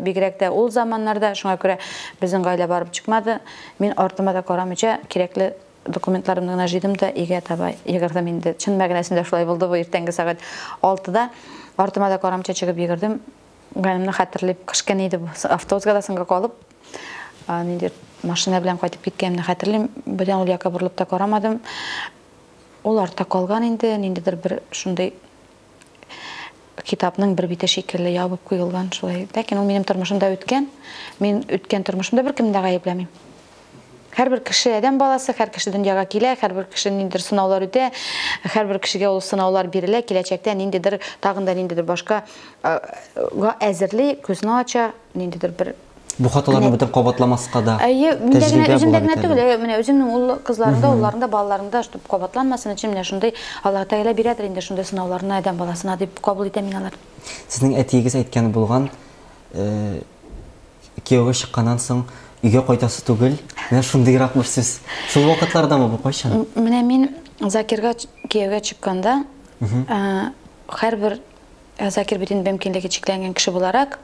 бигрәк тә ул заманнарда. Шуңа күрә безнең гаилә барып чыкмады. Мин артыма да карамыйча, кирәкле Документларымны гына җыйдым да өйгә таба йөгердем инде. Чын мәгънәсендә шулай булды бу иртәнге сәгать 6-да. Артыма да карамча чыгып йөгердем. Ганимне хәтерлим, кышкын иде бу. Автобуска да соңга калып, нинди машина белән кайтып киткәнемне хәтерлим. Бердән ул якка борылып та карамадым. Ул артта калган инде, ниндидер бер шундый китапның бер бите шикелле ябып куелган шулай. Ләкин ул минем тормышымда үткән. Мин үткән тормышымда беркемне дә гаепләмим. Һәрбер кеше адәм баласы, һәр кеше дөньяга килә, һәрбер кеше ниндидер сынаулар үтә, һәрбер кешегә ул сынаулар бирелә, киләчәктә ниндидер тагын да ниндидер башка га әзерли, күзне ача, ниндидер бер Бу хаталарны бөтен кабатламаска да. Әйе, миндә генә үземдә генә түгел, әйе, менә үземнең ул кызларымда, улларымда, балаларымда, чтобы кабатланмасын өчен менә шундый Аллаһ Тәгалә бирәдер инде шундый сынауларны адәм баласына дип кабул итәм мин алар. Сезнең әтиегез әйткән булган, кияүгә чыкканнан соң өйгә кайтасы түгел, менә шундыйрак бер сүз. Шул вакытлардамы бу, кайчан? Менә мин Закирга кияүгә чыкканда, һәрбер Ә Закир бит инде мөмкинлеге чикләнгән кеше буларак,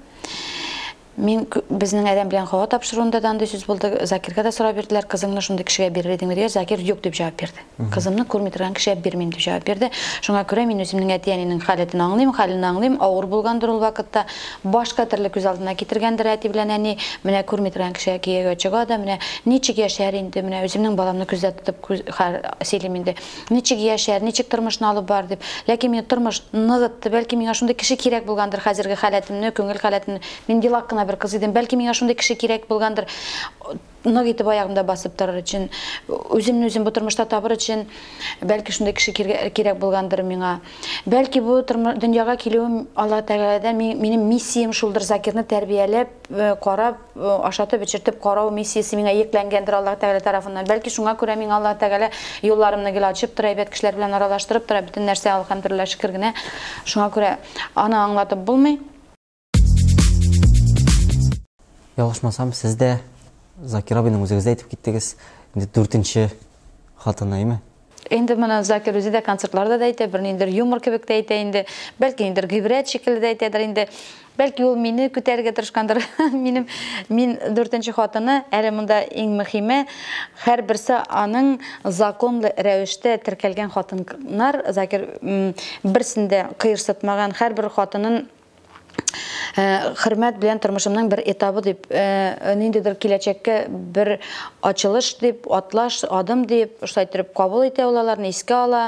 мин безнең адәм белән һава тапшыруында да андый сүз булды. Закирга да сорап бирделәр, кызыңны шундый кешегә бирер идеңме дигәч, Закир юк дип җавап бирде. Кызымны күрми торган кешегә бирмим дип җавап бирде. Шуңа күрә мин үземнең әти-әнинең халәтен аңлыйм, хәлен аңлыйм, авыр булгандыр ул вакытта. Башка төрле күз алдына китергәндер әти белән әни, менә күрми торган кешегә кияүгә чыга да, менә ничек яшәр инде, менә үземнең баламны күздә тотып сөйлим инде. Ничек яшәр, ничек тормышны алып барыр дип. Ләкин мине тормыш ныгытты. Бәлки миңа шундый кеше кирәк булгандыр, хәзерге халәтемне, күңел халәтемне. Мин елак кына бер кыз идем. Бәлки миңа шундый кеше кирәк булгандыр, нык итеп аягымда басып торыр өчен, үземне үзем бу тормышта табыр өчен, бәлки шундый кеше кирәк булгандыр миңа. Бәлки бу дөньяга килүем Аллаһы Тәгаләдән, минем миссиям шулдыр, Закирны тәрбияләп, карап, ашатып-эчертеп карау миссиясе миңа йөкләнгәндер Аллаһ Тәгалә тарафыннан. Бәлки шуңа күрә миңа Аллаһ Тәгалә юлларымны гел ачып тора, әйбәт кешеләр белән аралаштырып тора, бөтен нәрсә, әлхәмдүлилләһ, шөкер генә. Шуңа күрә аны аңлатып булмый. Ялгышмасам, сез дә Закир абыйның үзегез дә әйтеп киттегез, инде дүртенче хатыны, әйме? Инде моны Закир үзе дә концертларда да әйтә, бер ниндер юмор кебек тә әйтә инде. Бәлки ниндер гыйбрәт шикелле дә әйтәдер инде. Бәлки ул мине күтәрергә тырышкандыр. Минем мин дүртенче хатыны, әле монда иң мөхиме, һәрберсе аның законлы рәвештә теркәлгән хатыннар, Закир берсен дә кыерсытмаган, һәрбер хатынын хөрмәт белән тормышымның бер этабы дип, ниндидер киләчәккә бер ачылыш дип, атлаш, адым дип, шулай итеп кабул итә ул аларны, искә ала.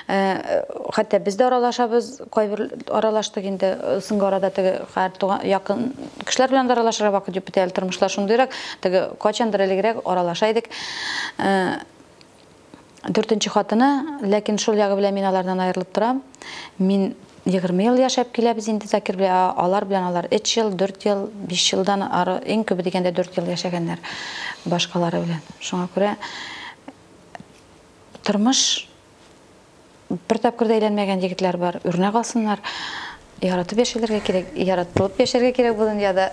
Хәтта без дә аралашабыз, кайбер аралаштык инде, соңгы арада теге якын кешеләр белән дә аралашырга вакыт юк бит әле, тормышлар шундыйрак, теге кайчандыр элегрәк аралаша идек. Дүртенче хатыны, ләкин шул ягы белән мин алардан аерылып торам. Мин 20 ел яшәп килә без инде Закир белән, ә алар белән алар 3 ел, 4 ел, 5 елдан ары, иң күбе дигәндә 4 ел яшәгәннәр башкалары белән. Шуңа күрә тормыш Бер тапкыр да әйләнмәгән егетләр бар, үрнәк алсыннар. Яратып яшәлергә кирәк, яратылып яшәргә кирәк бу дөньяда.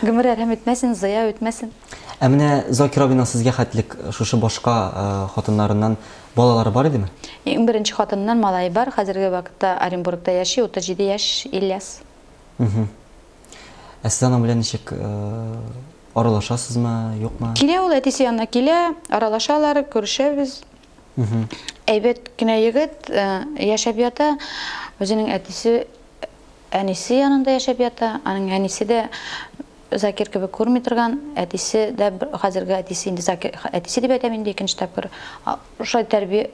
Гомер әрһәм үтмәсен, зыя үтмәсен. Ә менә Закир абыйның сезгә хәтлек шушы башка хатыннарыннан балалары бар идеме? Иң беренче хатыныннан малае бар, хәзерге вакытта Оренбургта яши, 37 яшь, Ильяс. Ә сез аның белән ничек аралашасызмы, юкмы? Килә ул әтисе янына килә, аралашалар, күрешәбез. Әйбәт кенә егет, э, яшәп ята, үзенең әтисе, әнисе янында яшәп ята, аның әнисе дә Закир кебек күрми торган, әтисе дә хәзерге әтисе инде Закир әтисе дип әйтәм инде икенче тапкыр. Шулай тәрбия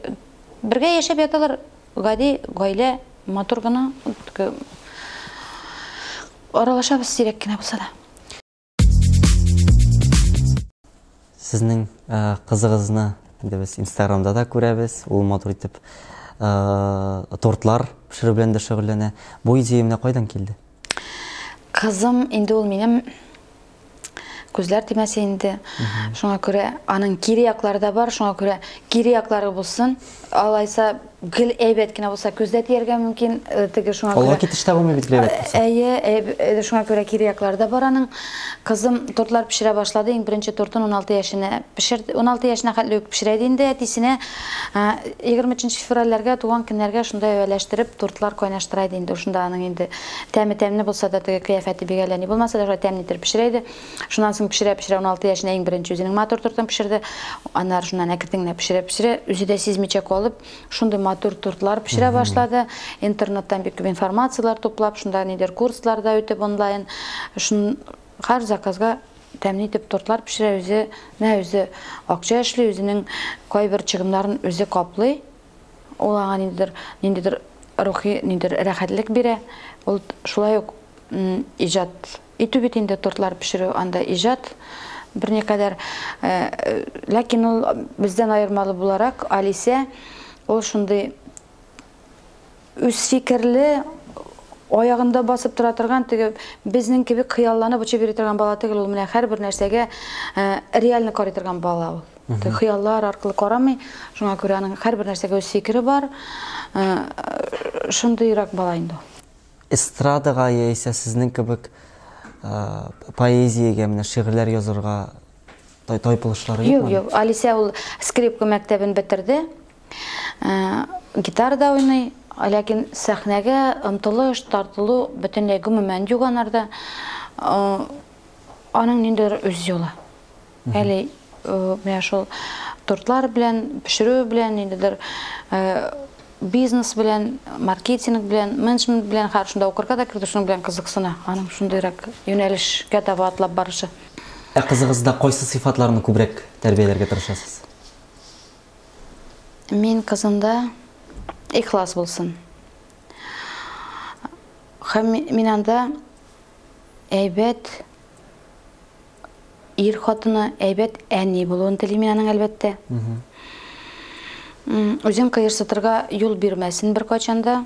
бергә яшәп яталар, гади гаилә, матур гына аралашабыз сирәк кенә булса да. Сезнең кызыгызны инде без инстаграмда да күрәбез ул матур итеп э, тортлар пешерү белән дә шөгыльләнә бу идея менә кайдан килде кызым инде ул минем күзләр тимәсә инде шуңа күрә аның кире яклары да бар шуңа күрә кире яклары булсын Алайса, гел әйбәт кенә булса, күздә тияргә мөмкин, э, теге шуңа күрә. Олы китештә булмый бит гел әйбәт булса. Әйе, э, шуңа күрә кире яклары да бар аның. Кызым тортлар пешерә башлады, иң беренче тортын 16 яшенә пешерде. 16 яшенә хәтле үк пешерә иде инде әтисенә. 23 э, февральләргә, туган көннәргә шунда әвәләштереп тортлар кайнаштыра иде инде. Шунда аның инде тәме тәмле булса да, теге кыяфәте бигәләни булмаса да, шулай тәмле итеп пешерә иде. Шуннан соң пешерә-пешерә 16 яшенә иң беренче үзенең матур тортын пешерде. Аннары шуннан әкртен генә пешерә-пешерә, үзе дә сизмичә калып, шундый матур тортлар пешерә башлады. Интернеттан бик күп информацияләр туплап, шунда нидер курслар да үтеп онлайн, шун һәр заказга тәмле итеп тортлар пешерә, үзе, мә үзе акча эшли, үзенең кайбер чыгымнарын үзе каплый. Ул аңа ниндидер, ниндидер рухи ниндидер рәхәтлек бирә. Ул шулай ук иҗат итү бит инде тортлар пешерү анда иҗат берникадәр. Э, ләкин ул бездән аермалы буларак Алисә ул шундый Үзфикерле, аягында басып тора торган, теге безнең кебек хыялланып очып йөри торган бала түгел ул. Менә һәрбер нәрсәгә реально карый торган бала ул. Хыяллар аркылы карамый. Шуңа күрә аның һәрбер нәрсәгә үз фикере бар. Шундыйрак бала инде ул. Эстрадага яисә сезнең кебек поэзиягә, менә шигырьләр язырга Тай тайпылышлары юкмы? Юк, юк. Алисә ул скрипка мәктәбен бетерде. Э, гитара да уйный, ләкин сәхнәгә омтылыш, тартылу бөтенләй гомумән юк анарда. Э, аның ниндидер үз юлы. Әле э, менә шул тортлар белән, пешерү белән ниндидер бизнес белән, маркетинг белән, менеджмент белән, хәер шунда укырга да керде, шуның белән кызыксына. Аның шундыйрак юнәлешкә таба атлап барышы. Ә кызыгызда кайсы сыйфатларны күбрәк тәрбияләргә тырышасыз? Мин кызымда ихлас булсын. Һәм мин анда әйбәт Ир хатыны әйбәт әни булуын телим мин аның, әлбәттә. Үзен кыерсытырга юл бирмәсен беркайчан да.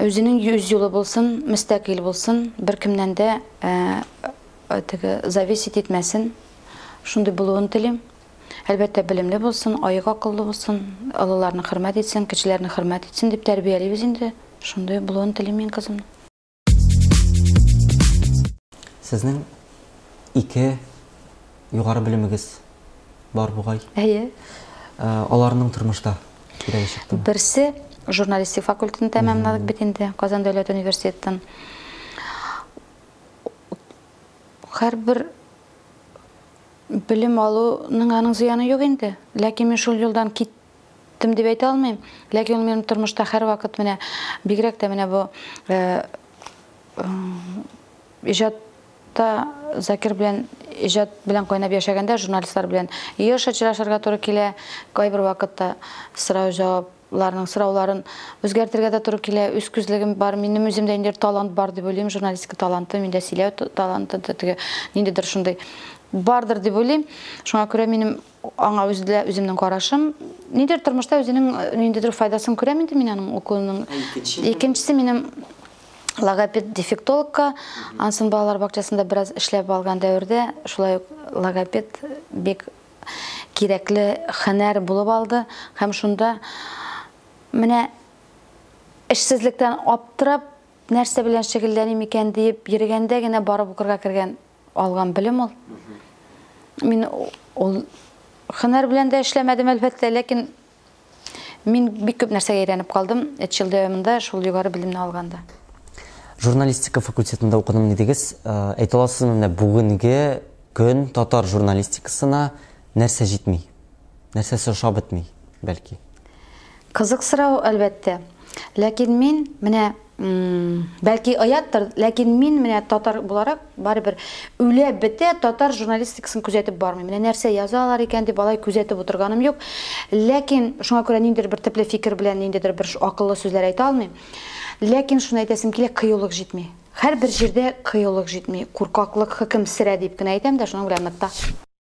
Үзенең үз юлы булсын, мөстәкыйль булсын, беркемнән дә теге зависеть итмәсен. Шундый булуын телим. Әлбәттә, белемле булсын, аек акыллы булсын, олыларны хөрмәт итсен, кечеләрне хөрмәт итсен дип тәрбиялибез инде. Шундый булуын телим мин кызымның. Сезнең ике югары белемегез бар бугай. Әйе. Э, аларның тормышта кирәге чыктымы? Берсе журналистик факультетын тәмамладык бит инде Казан дәүләт университетын. Һәрбер белем алуның аның зыяны юк инде. Ләкин мин шул юлдан кит Кем дип әйтә алмыйм, ләкин ул минем тормышта һәрвакыт менә, бигрәк тә менә бу иҗат та Закир белән иҗат белән кайнап яшәгәндә журналистлар белән еш очрашырга туры килә, кайбер вакытта сорау-җавапларның сорауларын үзгәртергә дә туры килә. Үз күзлегем бар, минем үземдә ниндидер талант бар дип уйлыйм, журналистика таланты, миндә сөйләү таланты, теге ниндидер шундый бардыр дип уйлыйм. Шуңа күрә минем Аңа үзе дә үземнең карашым. Нидер тормышта үзенең ниндидер файдасын күрәм инде мин аның укуының. Икенчесе минем логопед дефектологка Ансын балалар бакчасында бераз эшләп алган дәвердә шулай ук логопед бик кирәкле хәнәр булып алды һәм шунда менә эшсезлектән аптырап нәрсә белән шөгыльләним икән диеп йөргәндә генә барып укырга кергән Алган белем ул. Мин ул хынар белән дә эшләмәдем, әлбәттә, ләкин мин бик күп нәрсәгә әйләнеп калдым, эт ел дәвамында шул югары белемне алганда. Журналистика факультетында укыдым дидегез. Э, әйтә аласызмы, менә бүгенге көн татар журналистикасына нәрсә җитми? Нәрсәсе ошап бетми, бәлки? Кызык сорау, әлбәттә. Ләкин мин менә Бәлки ояттыр, ләкин мин менә татар буларак барыбер үлә бетә татар журналистикасын күзәтеп бармыйм. Менә нәрсә язалар икән дип алай күзәтеп утырганым юк. Ләкин шуңа күрә ниндидер бер төпле фикер белән ниндидер бер акыллы сүзләр әйтә алмыйм. Ләкин шуны әйтәсем килә, кыюлык җитми. Һәрбер җирдә кыюлык җитми, куркаклык хөкем сөрә дип кенә әйтәм дә, шуның белән ныкта.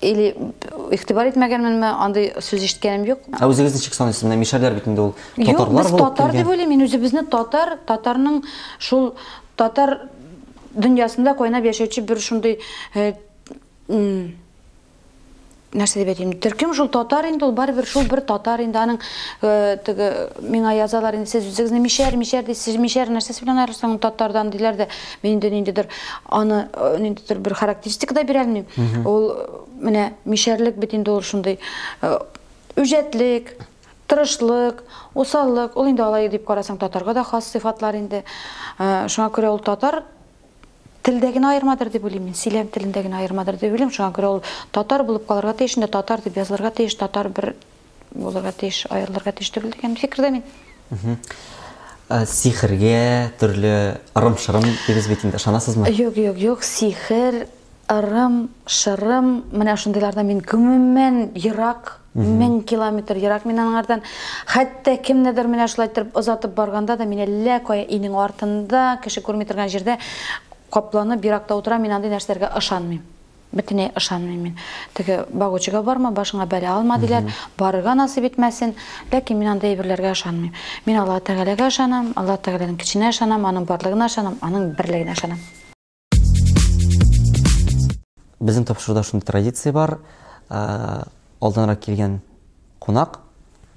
или игътибар итмәгәнменме, андый сүз ишеткәнем юк. Ә үзегез ничек саныйсыз? Менә мишәрләр бит инде ул татарлар булып Юк, татар дип уйлыйм, мин үзебезне татар, татарның шул татар дөньясында кайнап яшәүче бер шундый э, нәрсә дип әйтим, төркем шул татар инде, ул барыбер шул бер татар инде, аның э, теге миңа язалар инде, сез үзегезне мишәр, мишәр дисез, мишәр нәрсәсе белән аерылсаң татардан диләр дә. Мин инде ниндидер аны э, ниндидер бер характеристика да бирә алмыйм. Ул э, менә мишәрлек бит инде ул шундый э, үҗәтлек, тырышлык, усаллык. Ул инде алай дип карасаң татарга да хас сыйфатлар инде. Э, Шуңа күрә ул татар телдә генә аермадыр дип уйлыйм мин. Сөйләм телендә генә аермадыр дип уйлыйм. Шуңа күрә ул татар булып калырга тиеш, инде татар дип язылырга тиеш, татар бер Булырга тиеш, аерылырга тиеш түгел дигән фикердә мин. Э, сихергә, төрле ырым-шырым дибез бит инде, ышанасызмы? Юк, юк, юк, сихер, ырым, шырым, менә шундыйлардан мин гомумән ерак, мең километр ерак мин аңардан. Хәтта кемнедер менә шулай торып озатып барганда да мин әллә кая инең артында, кеше күрми торган җирдә капланып еракта утыра, мин андый нәрсәләргә ышанмыйм. Бөтенләй ышанмыйм мин. Теге багучыга барма, башыңа бәла алма, диләр. Барырга насыйп итмәсен. Ләкин мин андый әйберләргә ышанмыйм. Мин Аллаһы Тәгаләгә ышанам, Аллаһы Тәгаләнең көченә ышанам, аның барлыгына ышанам, аның берлегенә ышанам. Безнең тапшыруда шундый традиция бар, алданрак килгән кунак,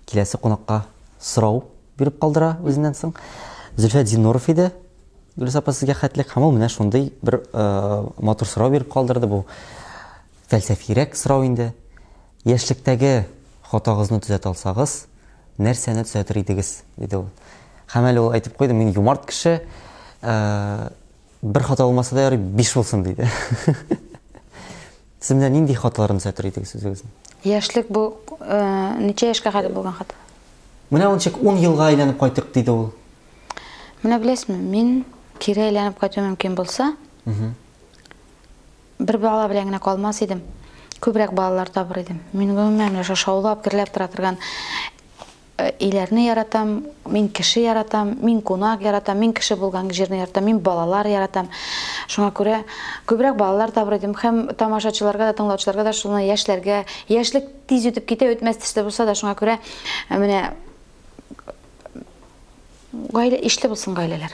Киләсе кунакка сорау биреп калдыра үзеннән соң. Зөлфәт Зиннуров иде. Гөлүс апа сезгә хәтлек һәм ул менә шундый бер э, матур сорау биреп калдырды бу. Фәлсәфирәк сорау инде. Яшьлектәге хатагызны төзәтә алсагыз, нәрсәне төзәтер идегез? диде ул. Һәм әле ул әйтеп куйды, мин юмарт кеше, э, бер хата булмаса да ярый, биш булсын диде. Сез менә нинди хатларын сәтер идегез үзегезнең? Яшьлек бу э, ничә яшькә кадәр булган хат? Менә ничек 10 елга әйләнеп кайтык диде ул. Менә беләсезме, мин кире әйләнеп кайту мөмкин булса, бер бала белән генә калмас идем. Күбрәк балалар табыр идем. Мин гомумән менә шушы шаулап, гөрләп тора торган Өйләрне яратам, мин кеше яратам, мин кунак яратам, мин кеше булган җирне яратам, мин балалар яратам. Шуңа күрә күбрәк балалар табыр идем һәм тамашачыларга да, тыңлаучыларга да шуны яшьләргә, яшьлек тиз үтеп китә, үтмәс төсле булса да, шуңа күрә э, менә гаилә ишле булсын гаиләләр.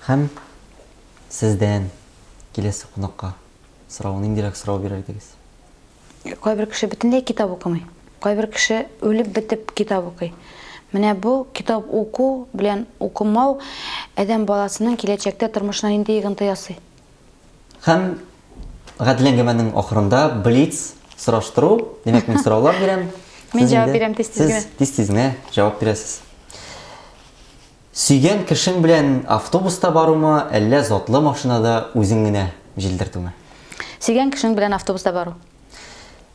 Һәм сездән киләсе кунакка сорау, ниндирәк сорау бирер идегез? Кайбер кеше бөтенләй китап укымый. Кайбер кеше үлеп бетеп китап укый. Менә бу китап уку белән укымау адәм баласының киләчәктә тормышына нинди йогынты ясый? Һәм гадел әңгәмәнең ахырында блиц сораштыру, димәк мин сораулар бирәм. Мин җавап бирәм тиз-тиз генә. Сез тиз-тиз генә җавап бирәсез. Сөйгән кешең белән автобуста барумы, әллә затлы машинада үзең генә җилдертүме? Сөйгән кешең белән автобуста бару.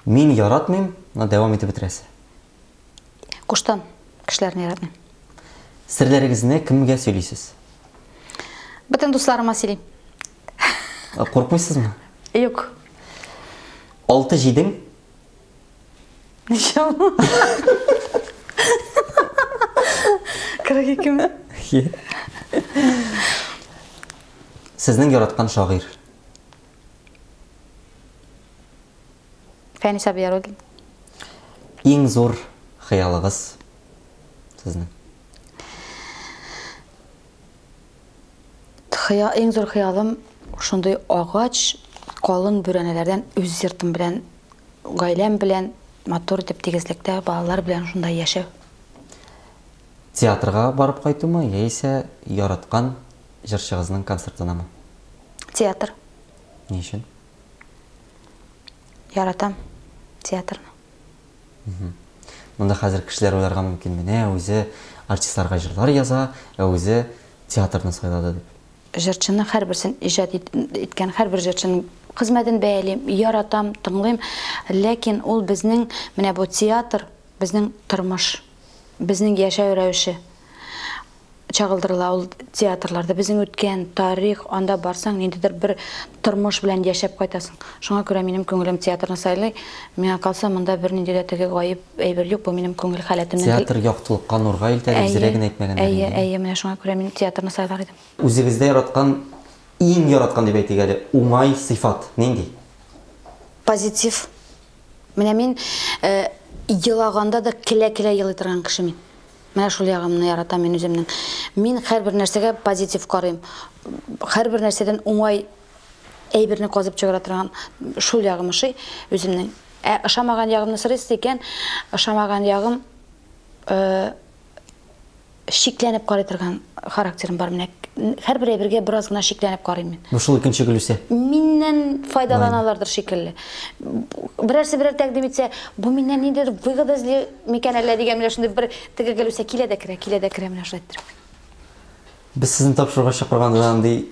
Мин яратмыйм, но дәвам итеп бетерәсе. Куштан кешеләрне яратмыйм. Серләрегезне кемгә сөйлисез? Бөтен дусларыма сөйлим. Куркмыйсызмы? Юк. Алты җидең Ничә ул? 42 ме? Сезнең яраткан шагыйрь. Фәнис Абияруллин. Иң зур хыялыгыз сезнең. Хыя, иң зур хыялым шундый агач, калын бүрәнәләрдән үз йортым белән, гаиләм белән матур итеп тигезлектә балалар белән шунда яшәү. Театрга барып кайтумы яисә яраткан җырчыгызның концертынамы? Театр. Ни өчен? Яратам театрны. Монда хәзер кешеләр уйларга мөмкин, менә үзе артистларга җырлар яза, ә үзе театрны сайлады дип. Җырчының һәрберсен иҗат иткән һәрбер җырчының хезмәтен бәялим, яратам, тыңлыйм, ләкин ул безнең менә бу театр, безнең тормыш, безнең яшәү рәвеше. чагылдырыла ул театрларда безнең үткән тарих анда барсаң ниндидер бер тормыш белән яшәп кайтасың шуңа күрә минем күңелем театрны сайлый миңа калса монда бернинди дә теге гаеп әйбер юк бу минем күңел халәтемнең театр яктылыкка нурга илтә дип зря генә әйтмәгәннәр әйе әйе менә шуңа күрә мин театрны сайлар идем үзегездә яраткан иң яраткан дип әйтик әле уңай сыйфат нинди позитив Менә мин елаганда да келә-келә елый торган кеше мин. Менә шул ягымны яратам мин үземнең. Мин һәрбер нәрсәгә позитив карыйм. Һәрбер нәрсәдән уңай әйберне казып чыгара торган шул ягым ошый үземнең. Ә ошамаган ягымны сорыйсыз икән, ошамаган ягым шикләнеп карый торган характерым бар менә һәрбер әйбергә бераз гына шикләнеп карыйм мин ну шул икенче гөлүсә миннән файдаланалардыр шикелле берәрсе берәр тәкъдим итсә бу миннән ниндидер выгода эзли микән әллә дигән менә шундый бер теге гөлүсә килә дә керә килә дә керә менә шулай иттереп без сезне тапшыруга чакырганда да андый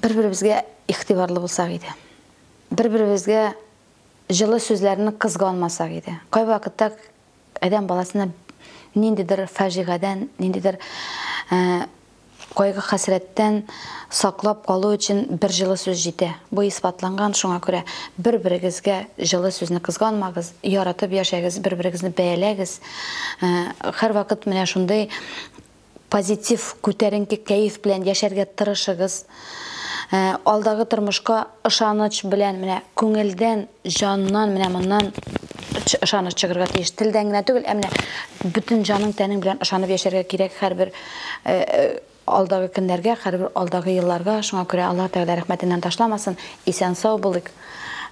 Бер-беребезгә игътибарлы булсак иде. Бер-беребезгә җылы сүзләрне кызганмасак иде. Кайвакытта адәм баласына ниндидер фаҗигадән, ниндидер кайгы-хәсрәттән саклап калу өчен бер җылы сүз җитә. Бу исбатланган, шуңа күрә бер-берегезгә җылы сүзне кызганмагыз, яратып яшәгез, бер-берегезне бәяләгез. Һәрвакыт менә шундый Позитив, күтәренке кәеф белән яшәргә тырышыгыз. Алдагы тормышка ышаныч белән, менә күңелдән, җаннан, менә моннан ышаныч чыгырга тиеш. Телдән генә түгел, ә менә бөтен җаның, тәнең белән ышанып яшәргә кирәк һәрбер алдагы көннәргә, һәрбер алдагы елларга. Шуңа күрә Аллаһ Тәгалә рәхмәтеннән ташламасын. Исән-сау булыйк.